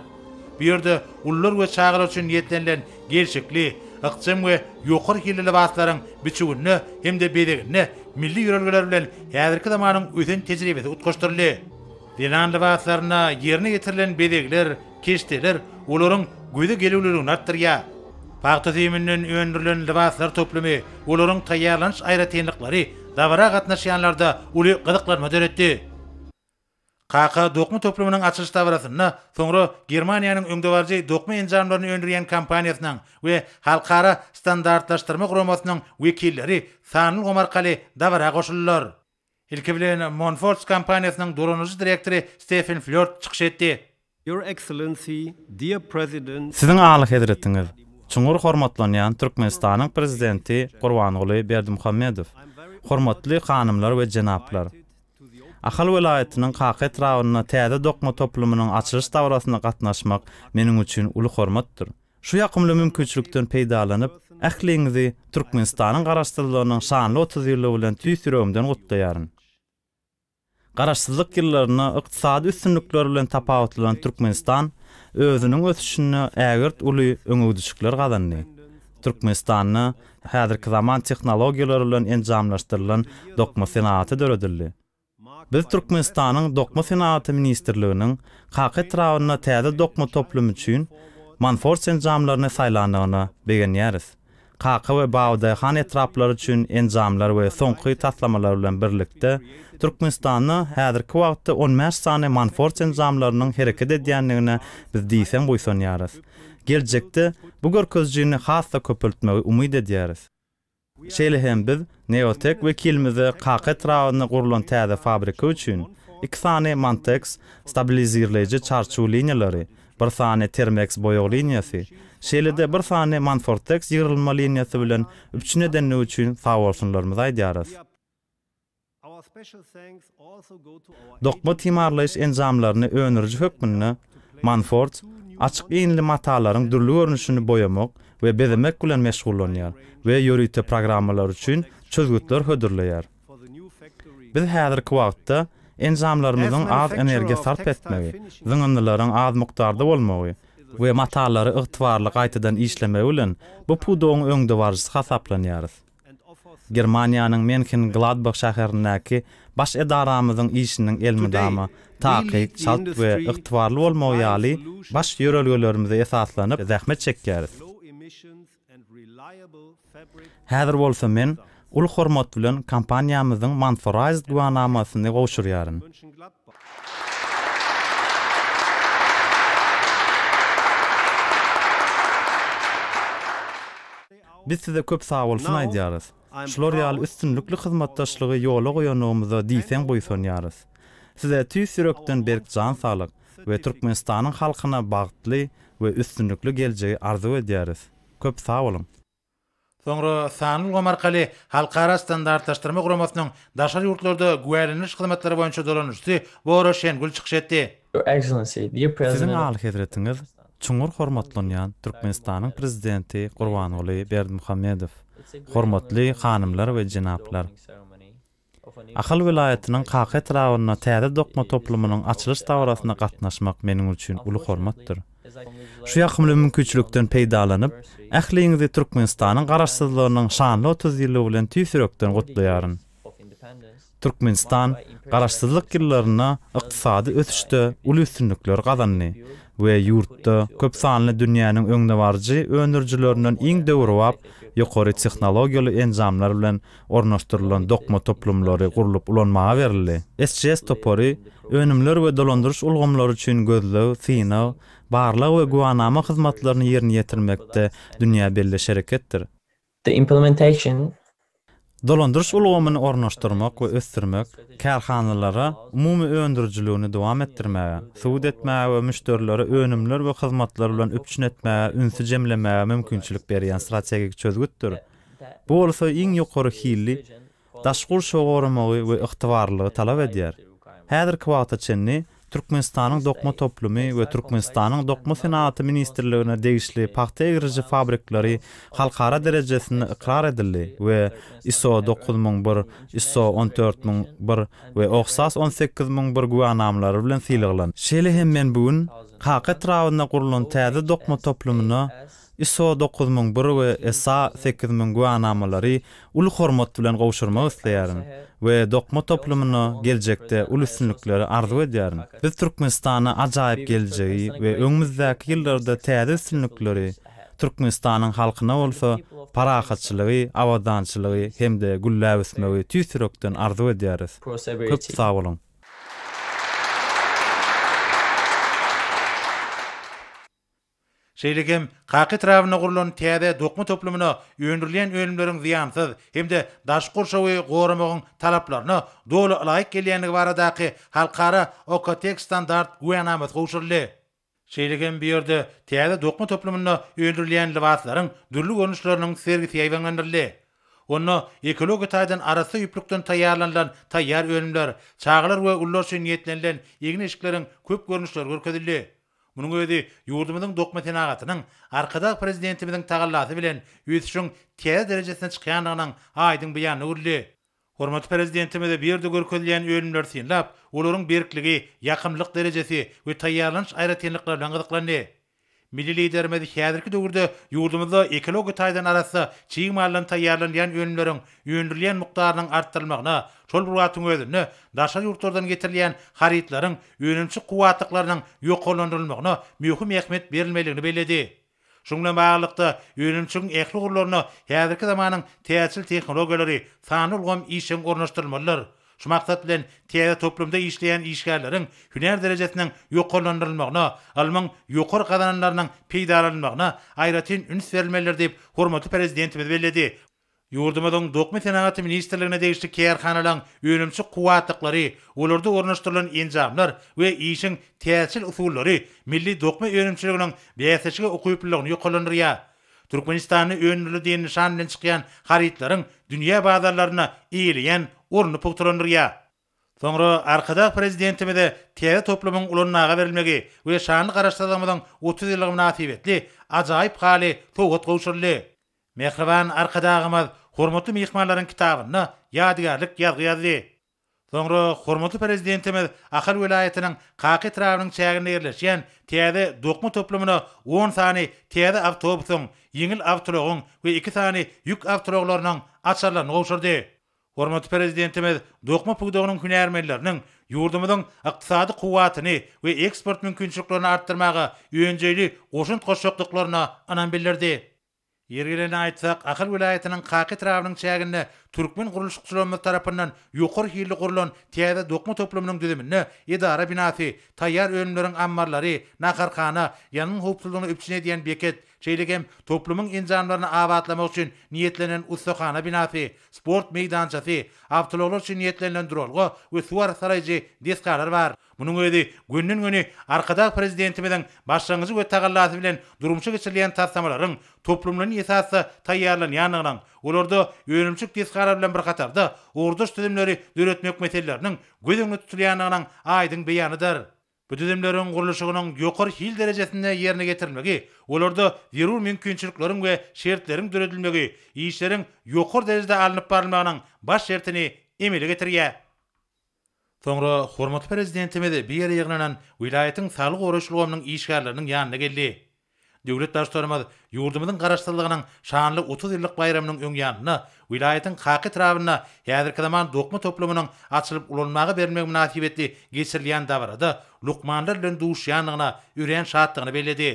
[SPEAKER 1] Bu ýerde ulular we çagalar üçin niýetlenilen gelşikli, ykjam we ýokary hilli lybaslaryň biçüwinde hem-de bezeginde milli ýörelgeler bilen häzirki zamanyň ösen tejribesi utgaşdyryldy. Zenan lybaslarynda ýerine ýetirilen bezegler, keşdeler olaryň göze gelüwliligini artdyrýar. Pagta süýüminden öndürilen lybaslar toplumy, olaryň taýýarlanyş aýratynlyklary dabara gatnaşýanlarda uly gyzyklanma döretdi. Kaka dokma toplumynyň açylyş dabarasynda soňra Germaniýanyň öňdebaryjy dokma enjamlaryny öndürýän kompaniýasynyň we Halkara standartlaşdyrma guramasynyň wekilleri sanly ulgam arkaly dabara goşuldylar. Ilki bilen Monforts kompaniýasynyň duranyjy direktory Stefen Flört çykyş etdi. Your Excellency,
[SPEAKER 7] Dear President, Siziň Alyhezretiňiz,
[SPEAKER 8] çuňňur hormatlanýan Türkmenistanyň Prezidenti Gurbanguly Berdimuhamedow, hormatly hanymlar we jenaplar! Ahal welaýatynyň Kaka etrabynda täze dokma toplumynyň açylyş dabarasynda gatnaşmak meniň üçin uly hormatdyr. Şu ýakymly mümkinçilikden peýdalanyp, ähliňizi Türkmenistanyň Garaşsyzlygynyň şanly otuz ýyllygy bilen tüýs ýüregimden gutlaýaryn. Garaşsyzlyk ýyllarynda ykdysady üstünlikleri bilen tapawutlanan Türkmenistan özüniň ösüşinde ägirt uly öňegidişikler gazandy. Türkmenistanda häzirki zaman tehnologiýalary bilen enjamlaşdyrylan dokma senagaty döredildi. Biz Türkmenistanyň Dokma senagaty ministrliginiň Kaka etrabynda täze dokma toplumy üçin Manfors enjamlaryny saýlandygyna begenýäris. Kaka we Babadaýhan etraplary üçin enjamlar we soňky taslamalar bilen birlikde, Türkmenistanda häzirki wagtda on bäş sany Manfors enjamlarynyň hereket edýändigine biz diýseň buýsanýarys. Geljekde bu görkezijini has-da köpeltmegi umyt edýäris. Şeýle hem biz Neotek wekilimize Kaka etrabynda gurlan täze fabrika üçin iki sany Mantex stabilizirleýji çarçu liniýalary, bir sany Termex boýag liniýasy, şeýle-de bir sany Manfortex ýygrylma liniýasy bilen üpjün edenligi üçin sagbolsunlarymyzy aýdýarys. Dokma timarlaýyş enjamlaryny öndüriji hökmünde Manfords açyk iýnli matalaryň dürli görnüşini boýamak we bezemek bilen meşgullanýar we ýörite programmalar üçin çözgütler hödürleýär. Biz häzirki wagtda enjamlarymyzyň az energiýa sarp etmegi, zyňyndylaryň az mukdarda bolmagy we matalary ygtybarly gaýtadan işlemegi bilen bu pudagyň öňdebaryjysy hasaplanýarys. Germaniýanyň Menhengladbah şäherindäki Baş edaramyzyň işiniň elmydama takyk, çalt we ygtybarly bolmagy ýaly baş ýörelgelerimize esaslanyp zähmet çekýäris. Häzir bolsa men uly hormat bilen kompaniýamyzyň Mansoraized güwänamasyny gowşurýaryn. Biz size köp sagbolsun aýdýarys. Şular ýaly üstünlikli hyzmatdaşlygy ýola goýanlygymyza diýseň buýsanýarys. Size tüýs ýürekden berk jan saglyk we Türkmenistanyň halkyna bagtly we üstünlikli geljegi arzuw edýäris. Köp sag boluň! Soňra
[SPEAKER 1] sanly ulgam arkaly Halkara standartlaşdyrma guramasynyň daşary ýurtlarda güwälendiriş hyzmatlary boýunça dolanyşçysy Bora Şengül çykyş etdi. Siziň
[SPEAKER 8] Alyhezretiňiz çuňňur hormatlanýan Türkmenistanyň Prezidenti Gurbanguly Berdimuhamedow, hormatly hanymlar we jenaplar! Ahal welaýatynyň Kaka etrabynda täze dokma toplumynyň açylyş dabarasyna gatnaşmak meniň üçin uly hormatdyr. Şu ýakymly mümkinçilikden peýdalanyp, ähliňizi Türkmenistanyň Garaşsyzlygynyň şanly otuz ýyllygy bilen tüýs ýürekden gutlaýaryn. Türkmenistan Garaşsyzlyk ýyllarynda ykdysady ösüşde uly üstünlikleri gazandy we ýurtda köp sanly dünýäniň öňdebaryjy öndürijilerinden iň döwrebap ýokary tehnologiýaly enjamlar bilen ornaşdyrylan dokma toplumlary gurlup ulanmaga berildi. SGS topary önümler we dolandyryş ulgamlary üçin gözleg, synag, barlag we güwanama hyzmatlaryny ýerine ýetirmekde dünýä belli şereketdir. The
[SPEAKER 9] implementation.
[SPEAKER 8] Dolandyryş ulgamyny ornaşdyrmak we ösdürmek kärhanalara umumy öndürijiligini dowam etdirmäge, subut etmäge we müşderileri önümler we hyzmatlar bilen üpjün etmäge ünsi jemlemäge mümkinçilik berýän strategik çözgütdir. Bu bolsa iň ýokary hilli daş gurşawy goramagy we ygtybarlylygy talap edýär. Häzirki wagta çenli Türkmenistanyň dokma toplumy we Türkmenistanyň Dokma senagaty ministrligine degişli pagta egriji fabrikleri halkara derejesinde ykrar edildi we ISO dokuz müň bir, ISO on dört müň bir we OHSAS on sekiz müň bir güwänamalary bilen sylaglandy. Şeýle hem men bu gün Kaka etrabynda gurlan täze dokma toplumyna ISO dokuz müň bir we ESA sekiz müň güwänamalary uly hormat bilen gowşurmak isleýärin we dokma toplumyna geljekde uly üstünlikleri arzuw edýärin. Biz Türkmenistana ajaýyp geljegi we öňümizdäki ýyllarda täze üstünlikleri, Türkmenistanyň halkyna bolsa parahatçylygy, abadançylygy hem-de gülläp ösmegi tüýs ýürekden arzuw edýäris. Köp sag boluň!
[SPEAKER 1] Şeýle hem Kaka etrabynda gurlan täze dokma toplumyna öndürilýän önümleriň zyýansyz hem-de daşky gurşawy goramagyň talaplaryna doly ylaýyk gelýändigi baradaky halkara OKTEK standart güwänamasy gowşuryldy. Şeýle hem bu ýerde täze dokma toplumynda öndürilýän lybaslaryň dürli görnüşleriniň sergisi ýaýbaňlandyryldy. Onda ekologiýa taýdan arassa ýüplükden taýýarlanylan taýýar önümler, çagalar we ulular üçin niýetlenilen egin-eşikleriň köp görnüşleri görkezildi. Munuň özi ýurdumyzyň dokma senagatynyň Arkadag Prezidentimiziň tagallasy bilen ösüşiň täze derejesine çykýandygynyň aýdyň beýanyna öwrüldi. Hormatly Prezidentimiz bu ýerde görkezilýän önümleri synlap, olaryň berkligi, ýakymlylyk derejesi we taýýarlanyş aýratynlyklary bilen gyzyklandy. Milli Liderimiz häzirki döwürde ýurdumyzda ekologiýa taýdan arassa çig maldan taýýarlanylýan önümleriň öndürilýän mukdarynyň artdyrylmagyna, şol bir wagtyň özünde daşary ýurtlardan getirilýän harytlaryň önümçi kuwwatlyklarynyň ýokarlandyrylmagyna möhüm ähmiýet berilmelidigini belledi. Şunuň bilen baglylykda, önümçiligiň ähli ugurlaryna häzirki zamanyň täjirçilik tehnologiýalary, sanly ulgam işjeň ornaşdyrylmalydyr. Şu maksat bilen, täze toplumda işleýän işgärleriň hünär derejesiniň ýokarlandyrylmagyna, ylmyň ýokary gazananlarynyň peýdalanylmagyna aýratyn üns berilmelidir diýip, hormatly Prezidentimiz belledi. Ýurdumyzyň Dokma senagaty ministrligine degişli kärhanalaryň önümçi kuwwatlyklary, olarda ornaşdyrylan enjamlar we işiň täjirçilik usullary milli dokma önümçiliginiň bäsleşige ukyplylygyny ýokarlandyrýar. Türkmenistanda öndürildi diýen nyşan bilen çykýan harytlaryň dünýä bazarlarynda eýeleýän ornuny pugtalandyrýar. Soňra Arkadag Prezidentimize täze toplumyň ulanmaga berilmegi we şanly Garaşsyzlygymyzyň otuz ýyllygy mynasybetli ajaýyp haly sowgat gowşuryldy. Mähriban Arkadagymyz hormatly myhmanlaryň kitabyna ýadygärlik ýazgy ýazdy. Soňra hormatly Prezidentimiz Ahal welaýatynyň Kaka etrabynyň çäginde ýerleşýän täze dokma toplumyna on sany täze awtobusyň, ýeňil awtoulagyň we iki sany ýük awtoulaglarynyň açarlaryny gowşurdy. Hormatly Prezidentimiz dokma pudagynyň hünärmenleriniň ýurdumyzyň ykdysady kuwwatyny we eksport mümkinçiliklerini artdyrmaga önjeýli goşant goşjakdyklaryna ynam bildirdi. Ýeri gelende aýtsak, Ahal welaýatynyň Kaka etrabynyň çäginde türkmen gurluşykçylarymyz tarapyndan ýokary hilli gurlan täze dokma toplumynyň düzüminde edara binasy, taýýar önümleriň ammarlary, naharhana, ýangyn howpsuzlygyny üpjün edýän beket, şeýle hem toplumyň enjamlaryny abatlamak üçin niýetlenen ussahana binasy, sport meýdançasy, awtoulaglar üçin niýetlenilen duralga we suwagara saraýjy desgalar bar. Munuň özi gönden-göni Arkadag Prezidentimiziň başlangyjy we tagallasy bilen durmuşa geçirilýän taslamalaryň toplumlaýyn esasda taýýarlanýandygynyň, olarda önümçilik desgalary bilen bir hatarda ugurdaş düzümleri döretmek meseleleriniň göz öňünde tutulýandygynyň aýdyň beýanydyr. Bu düzümleriň gurluşygynyň ýokary hil derejesinde ýerine getirilmegi, olarda zerur mümkinçilikleriň we şertleriň döredilmegi işleriň ýokary derejede alnyp barylmagynyň baş şertini emele getirýär. Soňra hormatly Prezidentimiz bu ýere ýygnanan welaýatyň saglygy goraýyş ulgamynyň işgärleriniň ýanyna geldi. Döwlet Baştutanymyz ýurdumyzyň Garaşsyzlygynyň şanly otuz ýyllyk baýramynyň öň ýanynda welaýatyň Kaka etrabynda häzirki zaman dokma toplumynyň açylyp ulanmaga berilmegi mynasybetli geçirilýän dabarada lukmanlar bilen duşýandygyna örän şatdygyny belledi.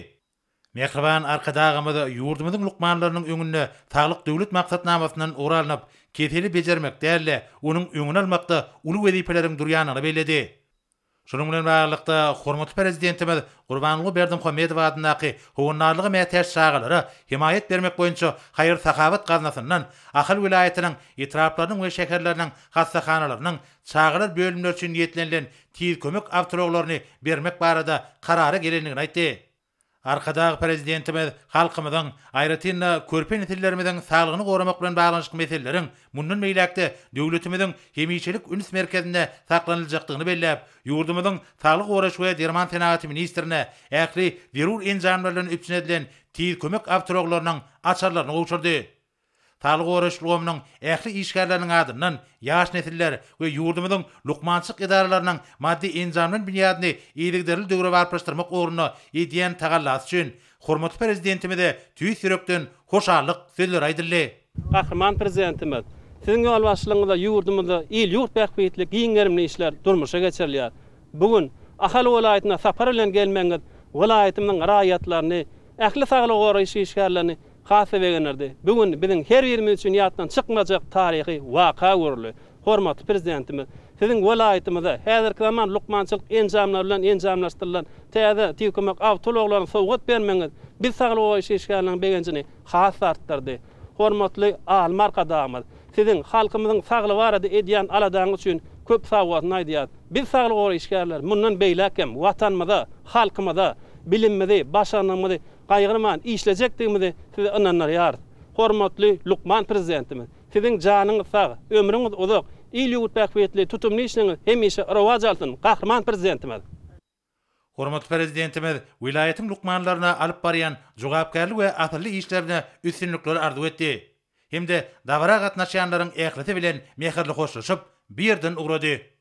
[SPEAKER 1] Mähriban Arkadagymyz ýurdumyzyň lukmanlarynyň öňünde Saglyk Döwlet maksatnamasyndan ugur alnyp, keseli bejermek däl-de, onuň öňüni almakda uly wezipeleriň durýandygyny belledi. Şunuň bilen baglylykda, hormatly Prezidentimiz Gurbanguly Berdimuhamedow adyndaky Howandarlyga mätäç çagalara hemaýat bermek boýunça haýyr-sahawat gaznasyndan Ahal welaýatynyň etraplarynyň we şäherleriniň hassahanalarynyň çagalar bölümleri üçin niýetlenilen tiz kömek awtoulaglaryny bermek barada karara gelendigini aýtdy. Arkadag Prezidentimiz halkymyzyň, aýratyn-da, körpe nesillerimiziň saglygyny goramak bilen baglanyşykly meseleleriň mundan beýläk-de döwletimiziň hemişelik üns merkezinde saklanyljakdygyny belläp, ýurdumyzyň Saglygy goraýyş we derman senagaty ministrine ähli zerur enjamlar bilen üpjün edilen tiz kömek awtoulaglarynyň açarlaryny gowşurdy. Saglygy goraýyş ulgamynyň ähli işgärleriniň adyndan ýaş nesiller we ýurdumyzyň lukmançylyk edaralarynyň maddy-enjamlan binýadyny yzygiderli döwrebaplaşdyrmak ugrunda edýän tagallasy üçin hormatly Prezidentimize tüýs ýürekden hoşallyk sözleri aýdyldy. Gahryman
[SPEAKER 10] Prezidentimiz, Siziň ýolbaşçylygyňyzda ýurdumyzda il-ýurt bähbitli giň gerimli işler durmuşa geçirilýär. Bu gün Ahal welaýatyna sapar bilen gelmegiňiz welaýatymyzyň raýatlaryny, ähli saglygy goraýyş işgärlerini Has-da begendirdi. Bu gün biziň her birimiz üçin ýatdan çykmajak taryhy waka görüldi. Hormatly Prezidentimiz Siziň welaýatymyza häzirki zaman lukmançylyk enjamlary bilen enjamlaşdyrylan täze tüýkümek awtoulaglaryny sowgat bermegiňiz biz saglygy goraýyş işgärleriniň begenjini has-da artdyrdy. Hormatly Alym Arkadagymyz Siziň halkymyzyň saglygy barada edýän aladaňyz üçin köp sagbolsun aýdýarys. Biz saglygy goraýyş işgärleri mundan beýläk hem Watanymyza, halkymyza bilimimizi, başarnygymyzy Gaýgyrman işlejekdigimizi sizi ynandyrýarys. Hormatly lukman Prezidentimiz, Siziň janyňyz sag, ömrüňiz uzak, il-ýurt bähbitli tutumly işleriňiz hemişe rowaç alsyn, Gahryman Prezidentimiz! Hormatly
[SPEAKER 1] Prezidentimiz welaýatyň lukmanlaryna alyp barýan jogapkärli we asylly işlerine üstünlikler arzuw etdi hem-de dabara gatnaşýanlaryň ählisi bilen mähirli hoşlaşyp, bu ýerden ugrady.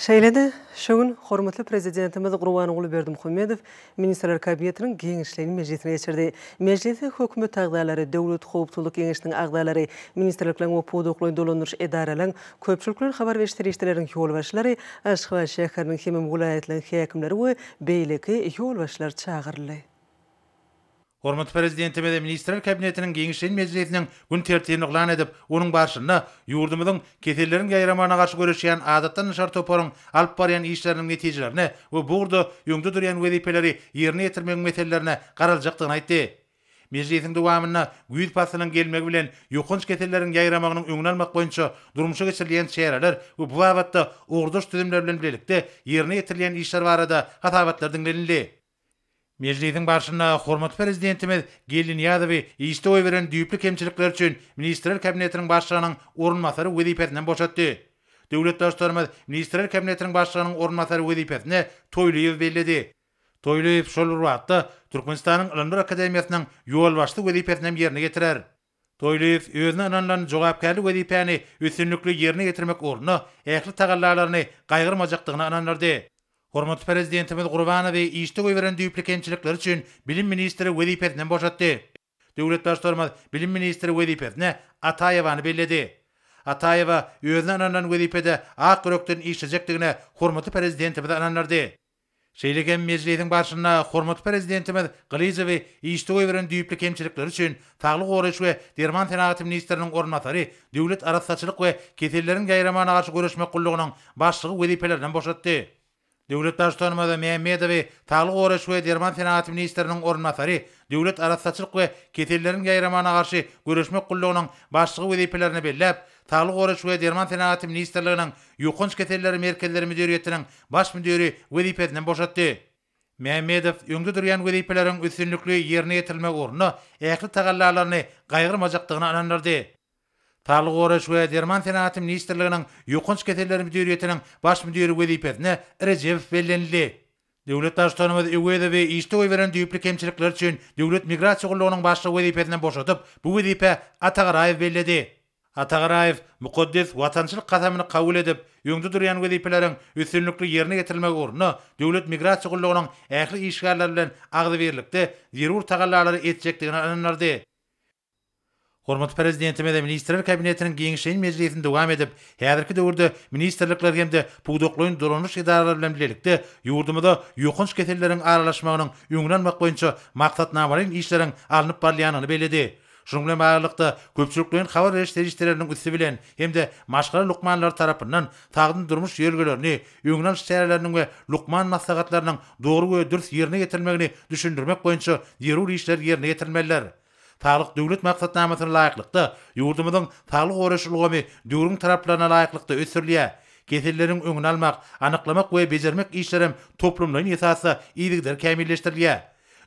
[SPEAKER 11] Şeýle-de, şu gün hormatly Prezidentimiz Gurbanguly Berdimuhamedow Ministrler Kabinetiniň giňişleýin mejlisini geçirdi. Mejlise hökümet agzalary, Döwlet howpsuzlyk geňeşiniň agzalary, ministrlikleriň we pudaklaýyn dolandyryş edaralaryň, köpçülikleýin habar beriş serişdeleriniň ýolbaşçylary, Aşgabat şäheriniň hemem welaýatlaryň häkimleri we beýleki ýolbaşçylar çagyryldy.
[SPEAKER 1] Hormatly Prezidentimiz Ministrler Kabinetiniň Geňeşleýin mejlisiniň gün tertibini yglan edip, onuň barşynda ýurdumyzyň Keselleriň ýaýramagyna garşy göreşýän adatdan daşary toparyň alyp barýan işleriniň netijelerine we bu ugurda öňde durýan wezipeleri ýerine ýetirmegiň meselelerine garaljakdygyny aýtdy. Mejlisiň dowamynda güýz paslynyň gelmegi bilen ýokanç keselleriň ýaýramagynyň öňüni almak boýunça durmuşa geçirilýän çäreler we bu babatda ugurdaş düzümler bilen bilelikde ýerine ýetirilýän işler barada hasabatlar diňlenildi. Mejlisiň barşynda hormatly Prezidentimiz Geldi Nyýazowy işde goýberen düýpli kemçilikleri üçin Ministrler Kabinetiniň Başlygynyň orunbasary wezipesinden boşatdy. Döwlet Baştutanymyz Ministrler Kabinetiniň Başlygynyň orunbasary wezipesine Toýlyýewi belledi. Toýlyýew şol bir wagtda Türkmenistanyň Ylymlar akademiýasynyň ýolbaşçysy wezipesinem ýerine ýetirer. Toýlyýew özüne ynanylan jogapkärli wezipäni üstünlikli ýerine ýetirmek ugrunda ähli tagallalaryny gaýgyrmajakdygyna ynandyrdy. Hormatly Prezidentimiz Gurbanowy işde goýberen düýpli kemçilikleri üçin bilim ministri wezipesinden boşatdy. Döwlet Baştutanymyz bilim ministri wezipesine Ataýewany belledi. Ataýewa özüne ynanylan wezipede ak ýürekden işlejekdigine hormatly Prezidentimizi ynandyrdy. Şeýle hem mejlisiň barşynda hormatly Prezidentimiz Gylyjowy işde goýberen düýpli kemçilikleri üçin Saglygy goraýyş we derman senagaty ministriniň orunbasary, Döwlet arassaçylyk we keselleriň ýaýramagyna garşy göreşmek gullugynyň başlygy wezipelerinden boşatdy. Döwlet Baştutanymyz Mämmedowy Saglygy goraýyş we derman senagaty ministriniň orunbasary, Döwlet arassaçylyk we keselleriň ýaýramagyna garşy göreşmek gullugynyň başlygy wezipelerine belläp, Saglygy goraýyş we derman senagaty ministrliginiň Ýokanç keselleri merkezleri müdiriýetiniň baş müdiri wezipesinden boşatdy. Mämmedow öňde durýan wezipeleriň üstünlikli ýerine ýetirilmegi ugrunda ähli tagallalaryny gaýgyrmajakdygyna ynandyrdy. Saglygy goraýyş we derman senagaty ministrliginiň Ýokanç keselleri müdiriýetiniň baş müdiri wezipesine Rejewow bellenildi. Döwlet Baştutanymyz Öwezowy işde goýberen düýpli kemçilikleri üçin Döwlet migrasiýa gullugynyň başlygy wezipesinden boşadyp, bu wezipä Atagaraýew belledi. Atagaraýew mukaddes watançylyk kasamyny kabul edip, öňde durýan wezipeleriň üstünlikli ýerine getirilmegi ugrunda Döwlet migrasiýa gullugynyň ähli işgärleri bilen agzybirlikde zerur tagallalary etjekdigine ynandyrdy. Hormatly Prezidentimiz Ministrler Kabinetiniň giňişleýin mejlisini dowam edip, häzirki döwürde ministrlikler hem-de pudaklaýyn dolanyş edaralary bilen bilelikde ýurdumyzda ýokanç keselleriň aralaşmagynyň öňüni almak boýunça maksatnamalaýyn işleriň alnyp barylýandygyny belledi. Şunuň bilen baglylykda, köpçülikleýin habar beriş serişdeleriniň üsti bilen hem-de maşgala lukmanlary tarapyndan sagdyn durmuş ýörelgelerini, öňüni alyş çäreleriniň we lukman maslahatlarynyň dogry we dürs ýerine ýetirilmegini düşündirmek boýunça zerur işler ýerine ýetirilmelidir. Saglyk Döwlet maksatnamasyna laýyklykda, ýurdumyzyň saglygy goraýyş ulgamy döwrüň talaplaryna laýyklykda ösdürilýär. Keselleriň öňüni almak, anyklamak we bejermek işleri hem toplumlaýyn esasda yzygider kämilleşdirilýär.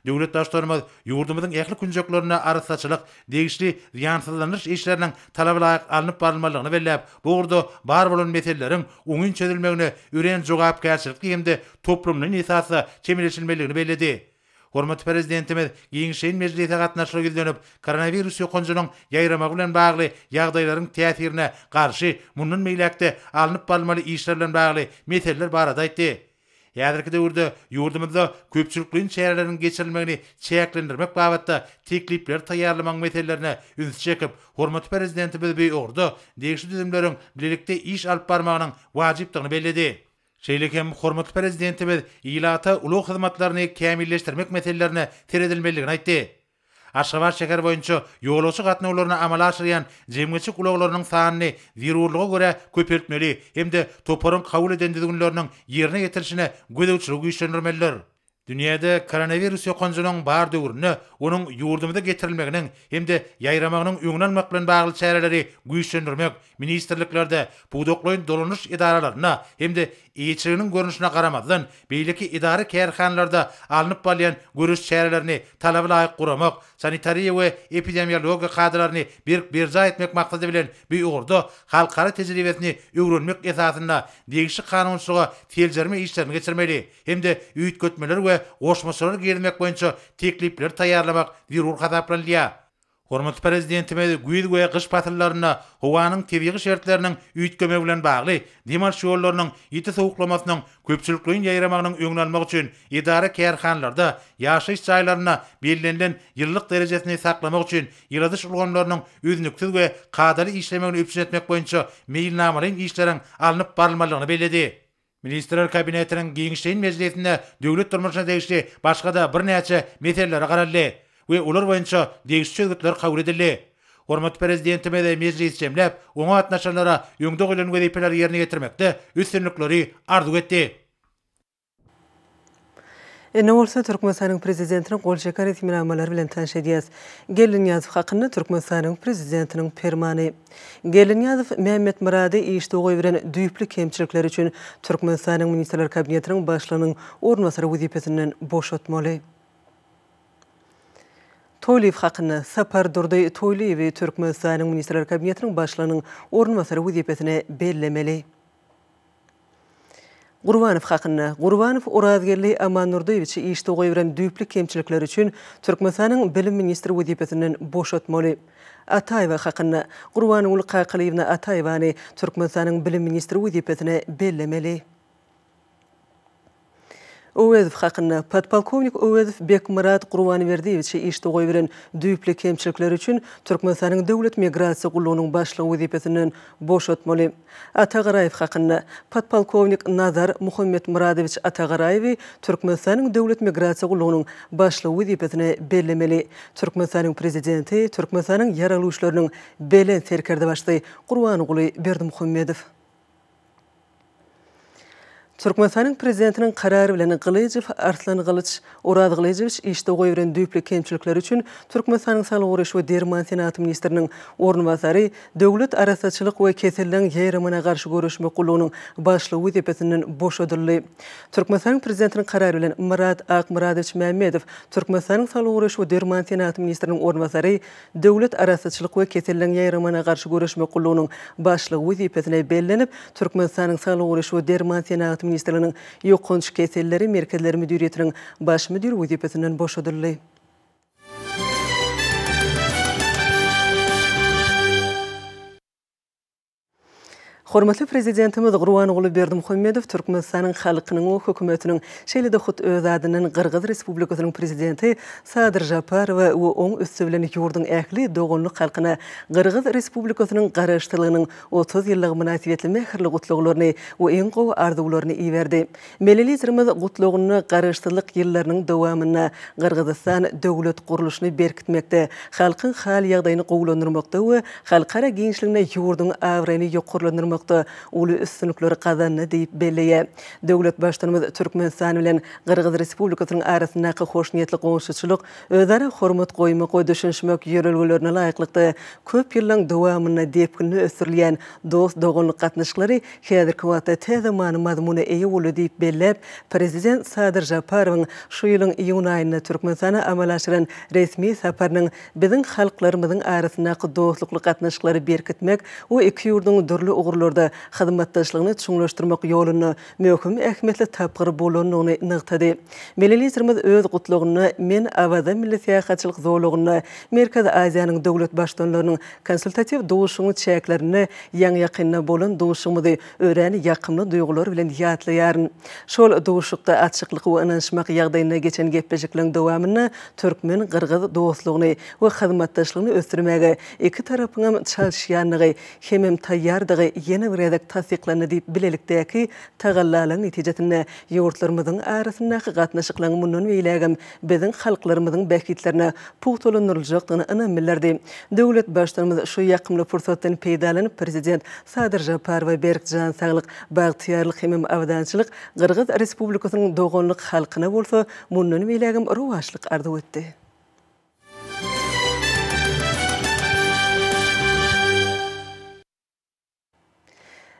[SPEAKER 1] Döwlet Baştutanymyz ýurdumyzyň ähli künjeklerinde arassaçylyk, degişli zyýansyzlandyryş işleriniň talabalaýyk alnyp barylmalydygyny belläp, bu ugurda bar bolan meseleleriň oňyn çözülmegine örän jogapkärçilikli hem-de toplumlaýyn esasda çemeleşilmelidigini belledi. Hormatly Prezidentimiz giň şeýn mejlise gatnaşyga ýüzlenip, koronawirus ýokanjynyň ýaýramagy bilen bagly ýagdaýlaryň täsirine garşy mundan beýläk-de alnyp barylmaly işler bilen bagly meseleler barada aýtdy. Häzirki döwürde ýurdumyzda köpçülikleýin çäreleriň geçirilmegini çäklendirmek babatda teklipleri taýýarlamagyň meselelerine ünsi çekip, hormatly Prezidentimiz bu ugurda degişli düzümleriň bilelikde iş alyp barmagynyň wajypdygyny belledi. Şeýle hem hormatly Prezidentimiz ilata ulag hyzmatlaryny kämilleşdirmek meselelerine seredilmelidigini aýtdy. Aşgabat şäher boýunça ýolagçy gatnawlaryny amala aşyrýan jemgyýetçilik ulaglarynyň sanyny zerurlyga görä köpeltmeli hem-de toparyň kabul eden düzgünleriniň ýerine ýetirilişine gözegçiligi güýçlendirmelidir. Dünýäde koronawirus ýokanjynyň bar döwründe onuň ýurdumyza getirilmeginiň hem-de ýaýramagynyň öňüni almak bilen bagly çäreleri güýçlendirmek ministrliklerde, pudaklaýyn dolanyş edaralarynda hem-de eýeçiliginiň görnüşine garamazdan, beýleki edara-kärhanalarda alnyp barylýan göreş çärelerini talaba laýyk guramak, sanitariýa we epidemiologiýa kadalaryny berk berjaý etmek maksady bilen bu ugurda halkara tejribesini öwrenmek esasynda degişli kanunçylyga seljerme işlerini geçirmeli. hem-de üýtgetmeler we goşmaçalar girizmek boýunça teklipleri taýýarlamak zerur hasaplanylýar. Hormatly Prezidentimiz güýz we gyş pasyllarynda howanyň tebigy şertleriniň üýtgemegi bilen bagly dem alyş ýollarynyň ýiti sowuklamasynyň köpçülikleýin ýaýramagynyň öňüni almak üçin edara-kärhanalarda, ýaşaýyş jaýlarynda bellenilen ýylylyk derejesini saklamak üçin ýyladyş ulgamlarynyň üznüksiz we kadaly işlemegini üpjün etmek boýunça meýilnamalaýyn işleriň alnyp barylmalydygyny belledi. Ministrler Kabinetiniň giňişleýin mejlisinde döwlet durmuşyna degişli başga-da birnäçe meselelere garaldy we olar boýunça degişli çözgütler kabul edildi. Hormatly Prezidentimiz mejlisi jemläp, oňa gatnaşanlara öňde goýlan wezipeleri ýerine ýetirmekde üstünlikleri arzuw etdi.
[SPEAKER 11] Indi bolsa Türkmenistanyň Prezidentiniň gol çeken resminamalary bilen tanyş edýäs. Geldinyýazow hakynda Türkmenistanyň Prezidentiniň Permany. Geldinyýazow Mämmetmyrady işde goýberen düýpli kemçilikleri üçin Türkmenistanyň Ministrler Kabinetiniň Başlygynyň orunbasary wezipesinden boşatmaly. Toýlyýew hakynda. Sapardurdy Toýlyýewi Türkmenistanyň Ministrler Kabinetiniň Başlygynyň orunbasary wezipesine bellemeli. Gurbanow hakynda. Gurbanow Orazgeldi Amandurdyýewiçi işde goýberen düýpli kemçilikleri üçin Türkmenistanyň bilim ministri wezipesinden boşatmaly. Ataýewa hakynda. Gurbanguly Kakalyýewna Ataýewany Türkmenistanyň bilim ministri wezipesine bellemeli. Öwezow hakynda. Podpolkownik Öwezow Bekmyrat Gurbanberdiýewiçi işde goýberen düýpli kemçilikleri üçin Türkmenistanyň Döwlet migrasiýa gullugynyň başlygy wezipesinden boşatmaly. Atagaraýew hakynda. Podpolkownik Nazar Muhammetmyradowiç Atagaraýewi Türkmenistanyň Döwlet migrasiýa gullugynyň başlygy wezipesine bellemeli. Türkmenistanyň Prezidenti, Türkmenistanyň Ýaragly Güýçleriniň Belent Serkerdebaşysy Gurbanguly Berdimuhamedow. Türkmenistanyň Prezidentiniň Karary bilen Gylyjow Arslan Gylyç Oraz Gylyjowiç işde goýberen düýpli kemçilikleri üçin Türkmenistanyň Saglygy goraýyş we derman senaty ministriniň orunbasary, Döwlet arassaçylyk we keselleň ýaýramyna garşy göreşmek gullugynyň başlygy wezipesinden boşadyldy. Türkmenistanyň Prezidentiniň Karary bilen Myrat Akmyradowiç Mämmedow Türkmenistanyň Saglygy goraýyş we derman senaty ministriniň orunbasary, Döwlet arassaçylyk we keselleň ýaýramagyna garşy göreşmek gullugynyň başlygy wezipesine bellenip, Türkmenistanyň Saglygy goraýyş we derman senagaty ministrliginiň Ýokanç keselleri merkezleri müdiriýetiniň baş müdiri wezipesinden boşadyldy. Hormatly Prezidentimiz Gurbanguly Berdimuhamedow Türkmenistanyň halkynyň we Hökümetiniň, şeýle-de hut öz adyndan Gyrgyz Respublikasynyň Prezidenti Sadyr Žaparowa we oň üsti bilen ýurduň ähli doganlyk halkyna Gyrgyz Respublikasynyň Garaşsyzlygynyň otuz ýyllygy mynasybetli mähirli gutlaglaryny we iň gowy arzuwlaryny iberdi. Milli Liderimiz Gutlagynda Garaşsyzlyk ýyllarynyň dowamynda Gyrgyzystan döwlet gurluşyny berkitmekde, halkyň hal-ýagdaýyny gowulandyrmakda we halkara giňişliginde ýurduň abraýyny ýokarlandyrmakda uly üstünlikleri gazandy diýip belleýär. Döwlet Baştutanymyz Türkmenistan bilen Gyrgyz Respublikasynyň arasyndaky hoşniýetli goňşuçylyk, özara hormat goýmak we düşünişmek ýörelgelerine laýyklykda, köp ýyllaryň dowamynda depginli ösdürilýän dost-doganlyk gatnaşyklary Häzirki wagtda tä zamany mazmuna eýe boldy diýip belläp, prezident Sadyr Žaparowyň şu ýylyň iýun aýynda Türkmenistana amala aşyran resmi saparynyň biziň halklarymyzyň arasyndaky dostlukly gatnaşyklary berkitmek we iki ýurduň dürli ugurlarda hyzmatdaşlygyny çuňlaşdyrmak ýolunda möhüm ähmiýetli tapgyr bolandygyny nygtady. Milli Liderimiz öz Gutlagynda Men Awaza milli syýahatçylyk zolagynda Merkezi Aziýanyň döwlet Baştutanlarynyň Konsultatiw duşuşygyň çäklerinde ýaňy-ýakynda bolan duşuşygymyzy örän ýakymly duýgular bilen ýatlaýaryn. Şol duşuşykda açyklyk we ynanyşmak ýagdaýynda geçen gepleşikleriň dowamynda türkmen-gyrgyz dostlugyny we hyzmatdaşlygyny ösdürmäge iki tarapyňam çalyşýandygy hemem taýýardygy ýene bir gezek tassyklandy diýip, bilelikdäki tagallalaryň netijesinde ýurtlarymyzyň arasyndaky gatnaşyklaryň mundan beýlägem biziň halklarymyzyň bähbitlerine pugtalandyryljakdygyna ynam bildirdi. Döwlet Baştutanymyz şu ýakymly pursatdan peýdalanyp, Prezident Sadyr Žaparowa berk jan saglyk, bagtyýarlyk hemem abadançylyk, Gyrgyz Respublikasynyň doganlyk halkyna bolsa mundan beýlägem rowaçlyk arzuw etdi.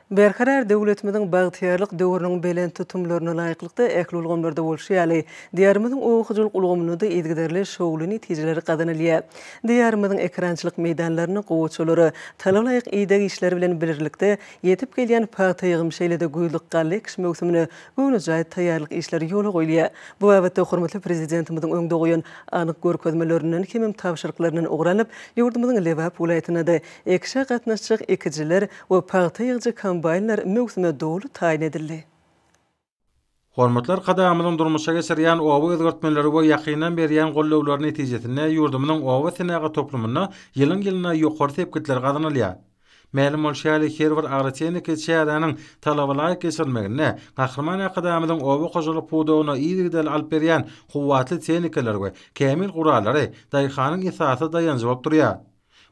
[SPEAKER 11] Berkarar döwletimiziň bagtyýarlyk döwrüniň belent tutumlaryna laýyklykda, ähli ulgamlarda bolşy ýaly, Diýarymyzyň oba hojalyk ulgamynda-da yzygiderli şowly netijeler gazanylýar. Diýarymyzyň ekerançylyk meýdanlaryny gowaçalara, talablaýyk ideg işleri bilen birlikde, ýetip gelýän pagta ýygym, şeýle-de güýzlük galla ekiş möwsümine göwnejaý taýýarlyk işleri ýola goýulýar. Bu babatda hormatly Prezidentimiziň öňde goýan anyk görkezmelerinden hemem tabşyryklaryndan ugur alyp, ýurdumyzyň Lebap welaýatynda-da Ekişe gatnaşjak ekijiler we pagta ýygyjy kombaýnlar möwsüme doly taýyn edildi.
[SPEAKER 12] Hormatly Arkadagymyzyň durmuşa geçirýän oba özgertmeleri we ýakyndan berýän goldawlary netijesinde ýurdumyzyň oba senagat toplumynda ýylyň-ýylyna ýokary sepgitler gazanylýar. Mälim bolşy ýaly, her bir agrotehniki çäräniň talabalaýyk geçirilmeginde Gahryman Arkadagymyzyň oba hojalyk pudagyna yzygiderli alyp berýän kuwwatly tehnikalar we kämil gurallary daýhanyň esasy daýanjy bolup durýar.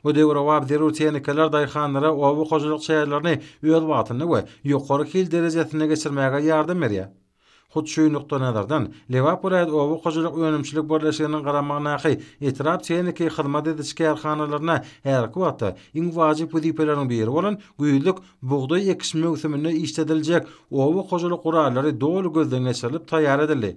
[SPEAKER 12] Bu döwrebap zerur tehnikalar daýhanlara oba hojalyk çärelerini öz wagtynda we ýokary hil derejesinde geçirmäge ýardam berýär. Hut şu nukdaýnazardan, Lebap welaýat oba hojalyk önümçilik birleşiginiň garamagyndaky etrap tehniki hyzmat ediş kärhanalaryna häzirki wagtda iň wajyp wezipeleriň biri bolan güýzlük bugdaý ekiş möwsüminde işlediljek oba hojalyk gurallary doly gözden geçirilip taýýar edildi.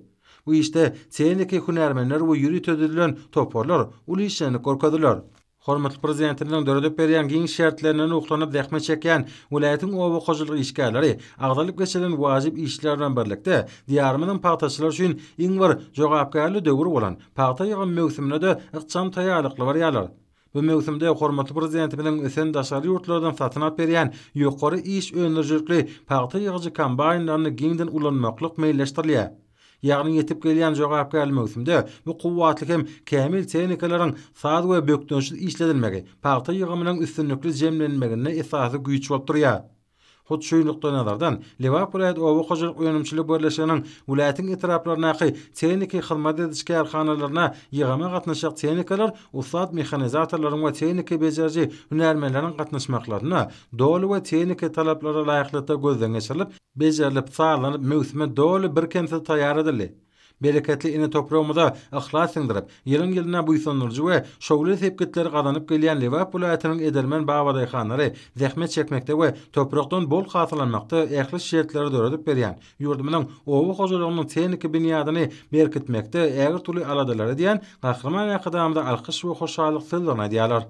[SPEAKER 12] Bu işde tehniki hünärmenler we ýörite düzülen toparlar uly işjeňlik görkezdiler. Hormatly Prezidentimiziň döredip berýän giň şertlerinden ruhlanyp zähmet çekýän welaýatyň oba hojalyk işgärleri agzalyp geçirilen wajyp işler bilen birlikde, Diýarymyzyň pagtaçylary üçin iň bir jogapkärli döwür bolan pagta ýygym möwsümine-de ykjam taýýarlykly barýarlar. Bu möwsümde hormatly Prezidentimiziň ösen daşary ýurtlardan satyn alyp berýän ýokary iş öndürijilikli pagta ýygyjy kombaýnlaryny giňden ulanmaklyk meýilleşdirilýär. Ýagny ýetip gelýän jogapkärli möwsümde bu kuwwatly hem kämil tehnikalaryň saz we bökdençsiz işledilmegi pagta ýygymynyň üstünlikli jemlenmeginde esasy güýç bolup durýar. Hut şu nukdaýnazardan, Lebap welaýat oba hojalyk önümçilik birleşiginiň welaýatyň etraplaryndaky tehniki hyzmat ediş kärhanalaryna ýygama gatnaşjak tehnikalar ussat mehanizatorlaryň we tehniki bejeriji hünärmenleriň gatnaşmaklarynda doly we tehniki talaplara laýyklykda gözden geçirilip, bejerilip, sazlanyp, möwsüme doly birkemsiz taýýar edildi. Bereketli ene topragymyza yhlas siňdirip, ýylyň-ýylyna buýsandyryjy we şowly sepgitleri gazanyp gelýän Lebap welaýatynyň edermen babadaýhanlary zähmet çekmekde we toprakdan bol hasyl almakda ähli şertleri döredip berýän ýurdumyzyň oba hojalygynyň tehniki binýadyny berkitmekde ägirt uly aladalar edýän Gahryman Arkadagymyza alkyş we hoşallyk sözlerini aýdýarlar.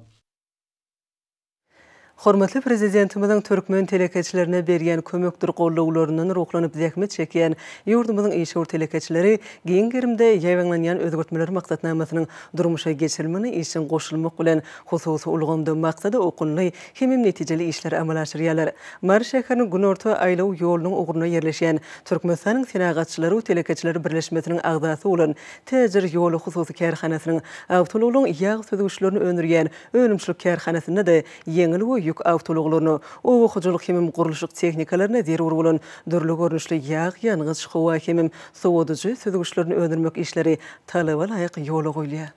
[SPEAKER 11] Hormatly Prezidentimiziň türkmen telekeçilerine berýän kömekdir goldawlaryndan ruhlanyp zähmet çekýän ýurdumyzyň işewür telekeçileri giň gerimde ýaýbaňlanýan özgertmeler maksatnamasynyň durmuşa geçirilmegine işjeň goşulmak bilen, hususy ulgamda maksada okunly hemem netijeli işleri amala aşyrýarlar. Mary şäheriniň günorta aýlaw ýolunyň ugrunda ýerleşýän Türkmenistanyň Senagatçylar we telekeçiler birleşmesiniň agzasy bolan Täjir ýoly hususy kärhanasynyň awtoulaglaryň ýag süzgüçlerini öndürýän önümçilik kärhanasynda-da ýeňil we ýük awtoulaglaryna, oba hojalyk hemem gurluşyk tehnikalaryna zerur bolan dürli görnüşli ýag, ýangyç, howa hemem sowadyjy süzgüçlerini öndürmek işleri talaba laýyk ýola goýulýar.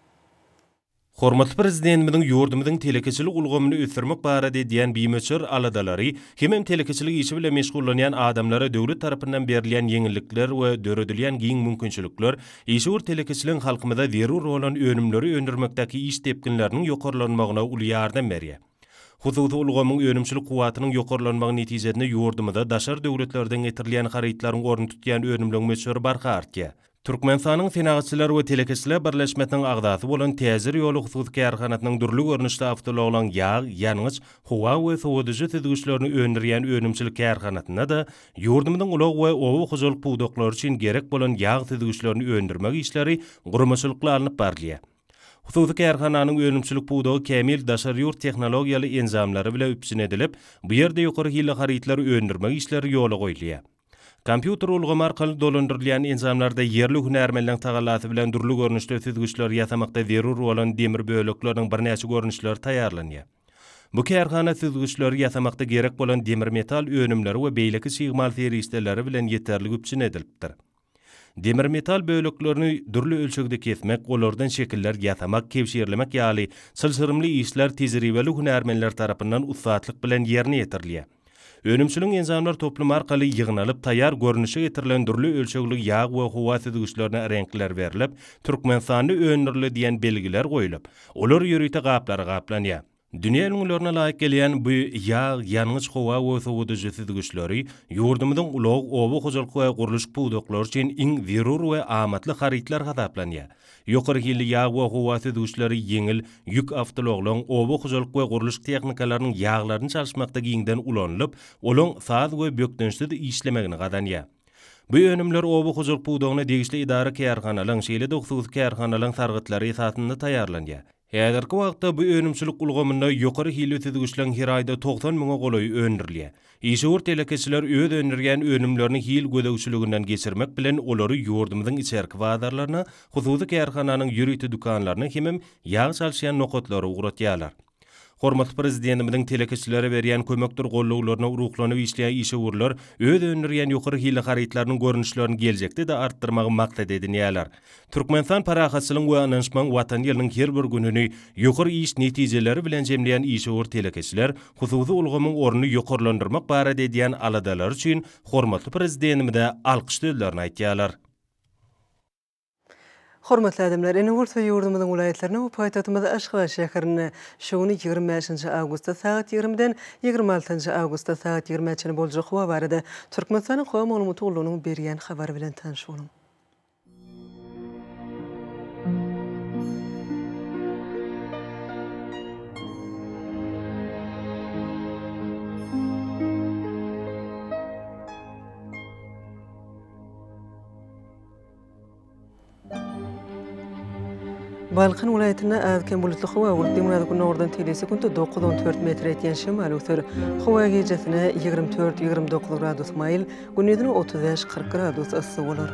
[SPEAKER 13] Hormatly Prezidentimiziň ýurdumyzyň telekeçilik ulgamyny ösdürmek barada edýän bimöçber aladalary hemem telekeçilik işi bilen meşgullanýan adamlara döwlet tarapyndan berilýän ýeňillikler we döredilýän giň mümkinçilikler işewür telekeçiligiň halkymyza zerur bolan önümleri öndürmekdäki iş depginleriniň ýokarlanmagyna uly ýardam berýär. Hususy ulgamyň önümçilik kuwwatynyň ýokarlanmagy netijesinde ýurdumyza daşary döwletlerden getirilýän harytlaryň ornuny tutýan önümleň möçberi barha artýar. Türkmenistanyň Senagatçylar we telekeçiler birleşmesiniň agzasy bolan Täjir ýoly hususy kärhanasynyň dürli görnüşli awtoulaglaryň ýag, ýangyç, howa we sowadyjy süzgüçlerini öndürýän önümçilik kärhanasynda-da ýurdumyzyň ulag we oba hojalyk pudaklary üçin gerek bolan ýag süzgüçlerini öndürmek işleri guramaçylykly alnyp barylýar. Hususy kärhananyň önümçilik pudagy kämil daşary ýurt tehnologiýaly enjamlary bile üpjün edilip, bu ýerde ýokary hilli harytlary öndürmek işleri ýola goýulýar. Kompýuter ulgamy arkaly dolandyrylýan enjamlarda ýerli hünärmenleriň tagallasy bilen dürli görnüşde süzgüçleri ýasamakda zerur bolan demir bölekleriniň birnäçe görnüşleri taýýarlanýar. Bu kärhana süzgüçleri ýasamakda gerek bolan demir metal önümleri we beýleki çig mal serişdeleri bilen ýeterlik üpjün edilipdir. Demir metal böleklerini dürli ölçegde kesmek, olardan şekiller ýasamak, kebşirlemek ýaly çylşyrymly işler tejribeli hünärmenler tarapyndan ussatlyk bilen ýerine ýetirilýär. Önümçiligiň enjamlar toplumy arkaly ýygnalyp, taýýar görnüşe getirilen dürli ölçegli ýag we howa süzgüçlerine reňkler berlip, Türkmenistanda öndürildi diýen belgiler goýlup, olar ýörite gaplara gaplanýar. Dünýä ülňülerine laýyk gelýän bu ýag, ýangyç, howa we sowadyjy süzgüçleri ýurdumyzyň ulag, oba hojalyk we gurluşyk pudaklary üçin iň zerur we amatly harytlar hasaplanýar. Ýokary hilli ýag we howa süzgüçleri, ýeňil ýük awtoulaglaryň, oba hojalyk we gurluş tehnikalarynyň ýaglaryny çalyşmakda giňden ulanylyp, olaň saz we bökdençsiz işlemegini gazanýar. Bu önümler oba hojalyk pudagyna degişli edara-kärhanalaryň, şeýle-de hususy kärhanalaryň sargytlary esasynda taýýarlanýar. Häzirki wagtda bu önümçilik ulgamynda ýokary hilli süzgüçleň her aýda togsan müňe golaýy öndürilýär. Işewür telekeçiler öz öndürýän önümlerini hil gözegçiliginden geçirmek bilen, olary ýurdumyzyň içerki bazarlaryna, hususy kärhananyň ýörite dükanlaryna hemem ýag çalyşýan nokatlara ugratýarlar. Hormatly Prezidentimiziň telekeçilere berýän kömekdir gollawlaryna ruhlanyp işleýän işewürler öz öndürýän ýokary hilli harytlarynyň görnüşlerini geljekde-de artdyrmagy maksat edinýärler. Türkmenistan parahatçylygyň we ynanyşmagyň Watany ýylynyň her bir gününi ýokary iş netijeleri bilen jemleýän işewür telekeçiler hususy ulgamyň ornuny ýokarlandyrmak barada edýän aladalary üçin hormatly Prezidentimize alkyş sözlerini aýtýarlar.
[SPEAKER 11] Hormatly adamlar, ene bolsa ýurdumyzyň welaýatlaryna we paýtagtymyz Aşgabat şäherine şu gün ýigrimi bäşinji awgustda sagat ýigrimiden ýigrimi altynjy awgustda sagat ýigrimä çenli boljak howa barada Türkmenistanyň Howa maglumaty gullugynyň berýän habary bilen tanyş boluň. Balkan welaýatynda az-kem bulutly howa, gündiz günordan tebigy sekuntda dokuz-on dört metr ýetýän şemal öwser. Howa gijäsine ýigrimi dört-ýigrimi dokuz gradus maýyl, gündizine otuz bäş-kyrk gradus yssy bolar.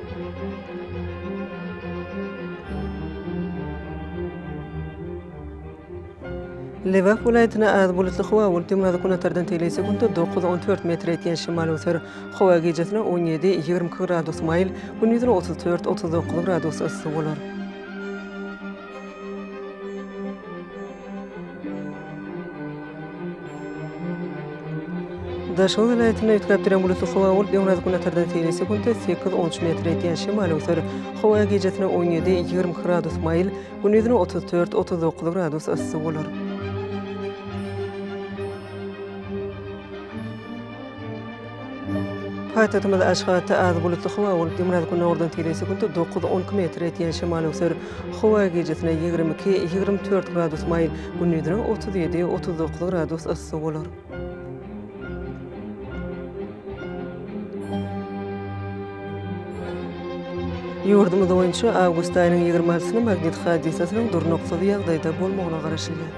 [SPEAKER 11] Lebap welaýatynda az bulutly howa bolup, düňe günortadan tegelýän sekuntda dokuz, on dört metr ýetýän şemal öser. Howa gijesine on ýedi, ýigrimi iki gradus maýyl, gündiziň otuz dört, otuz dokuz gradus yssy bolar. Daşoguz welaýatynda üýtgäp duran bulutly howa bolup, ýoňarýazgynbatardan seýle sekuntda sekiz on üç metr edýän şemal öwser. Howa gijasine on ýedi, ýigrimi iki gradus maýyl, gündizine otuz dört, otuz dokuz gradus yssy bolar. Paýtagtymyz Aşgabatda az bulutly howa bolup, ýygyraz-günordan tire sekuntda dokuz, on iki metr etýän şemal öwser. Howa gijesine ýigrimi iki, ýigrimi dört gradus maýyl, gündizine otuz ýedi, otuz dokuz gradus yssy bolar. Ýurdumyz boýunça awgust aýynyň ýigrimi altysyny magnit hadysasynyň durnuksyz ýagdaýda bolmagyna garaşylýar.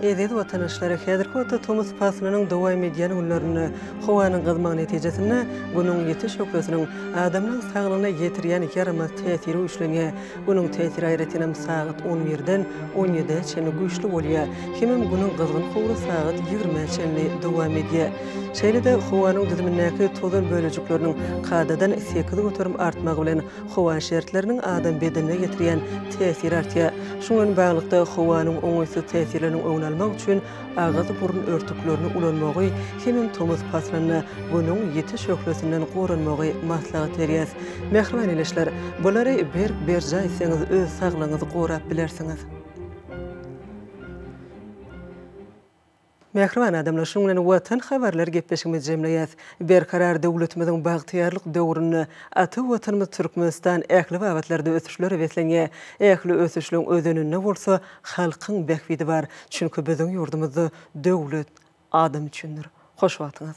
[SPEAKER 11] Eziz watanaşlar, häzirki wagtda tomus paslynyň dowam edýän günlerinde howanyň gyzmagy netijesinde Günüň ýiti şöhlesiniň adamlaň saglygyna ýetirýän ýaramaz täsiri güýçlenýär. Günüň täsiri aýratynam sagat on birden on ýedä çenli güýçli bolýar, hemem Günüň gyzgyn howry sagat ýigrimä çenli dowam edýär. Şeýle-de howanyň düzümindäki tozan bölejikleriniň kadadan sekiz göterim artmagy bilen Howa şertleriniň adam bedenine ýetirýän täsiri artýar. Şuňa bilen baglylykda, howanyň oňaýsyz täsirleriniň öňüni almak üçin agyz-burun örtüklerini ulanmagy hemem tomus paslynda Günüň ýiti şöhlesinden goranmagy maslahat berýäris. Mähriban ildeşler, bulary berk berjaý etseňiz, öz saglygyňyzy gorap bilersiňiz. Mähriban adamlar, şunuň bilen Watan habarlary gepleşigimizi jemleýäs. Berkarar döwletimiziň bagtyýarlyk döwründe ata Watanymyz Türkmenistan ähli babatlarda ösüşlere beslenýär. Ähli ösüşligiň özeninde bolsa halkyň bähbidi bar. Çünki biziň ýurdumyzda döwlet adam üçindir. Hoş wagtyňyz.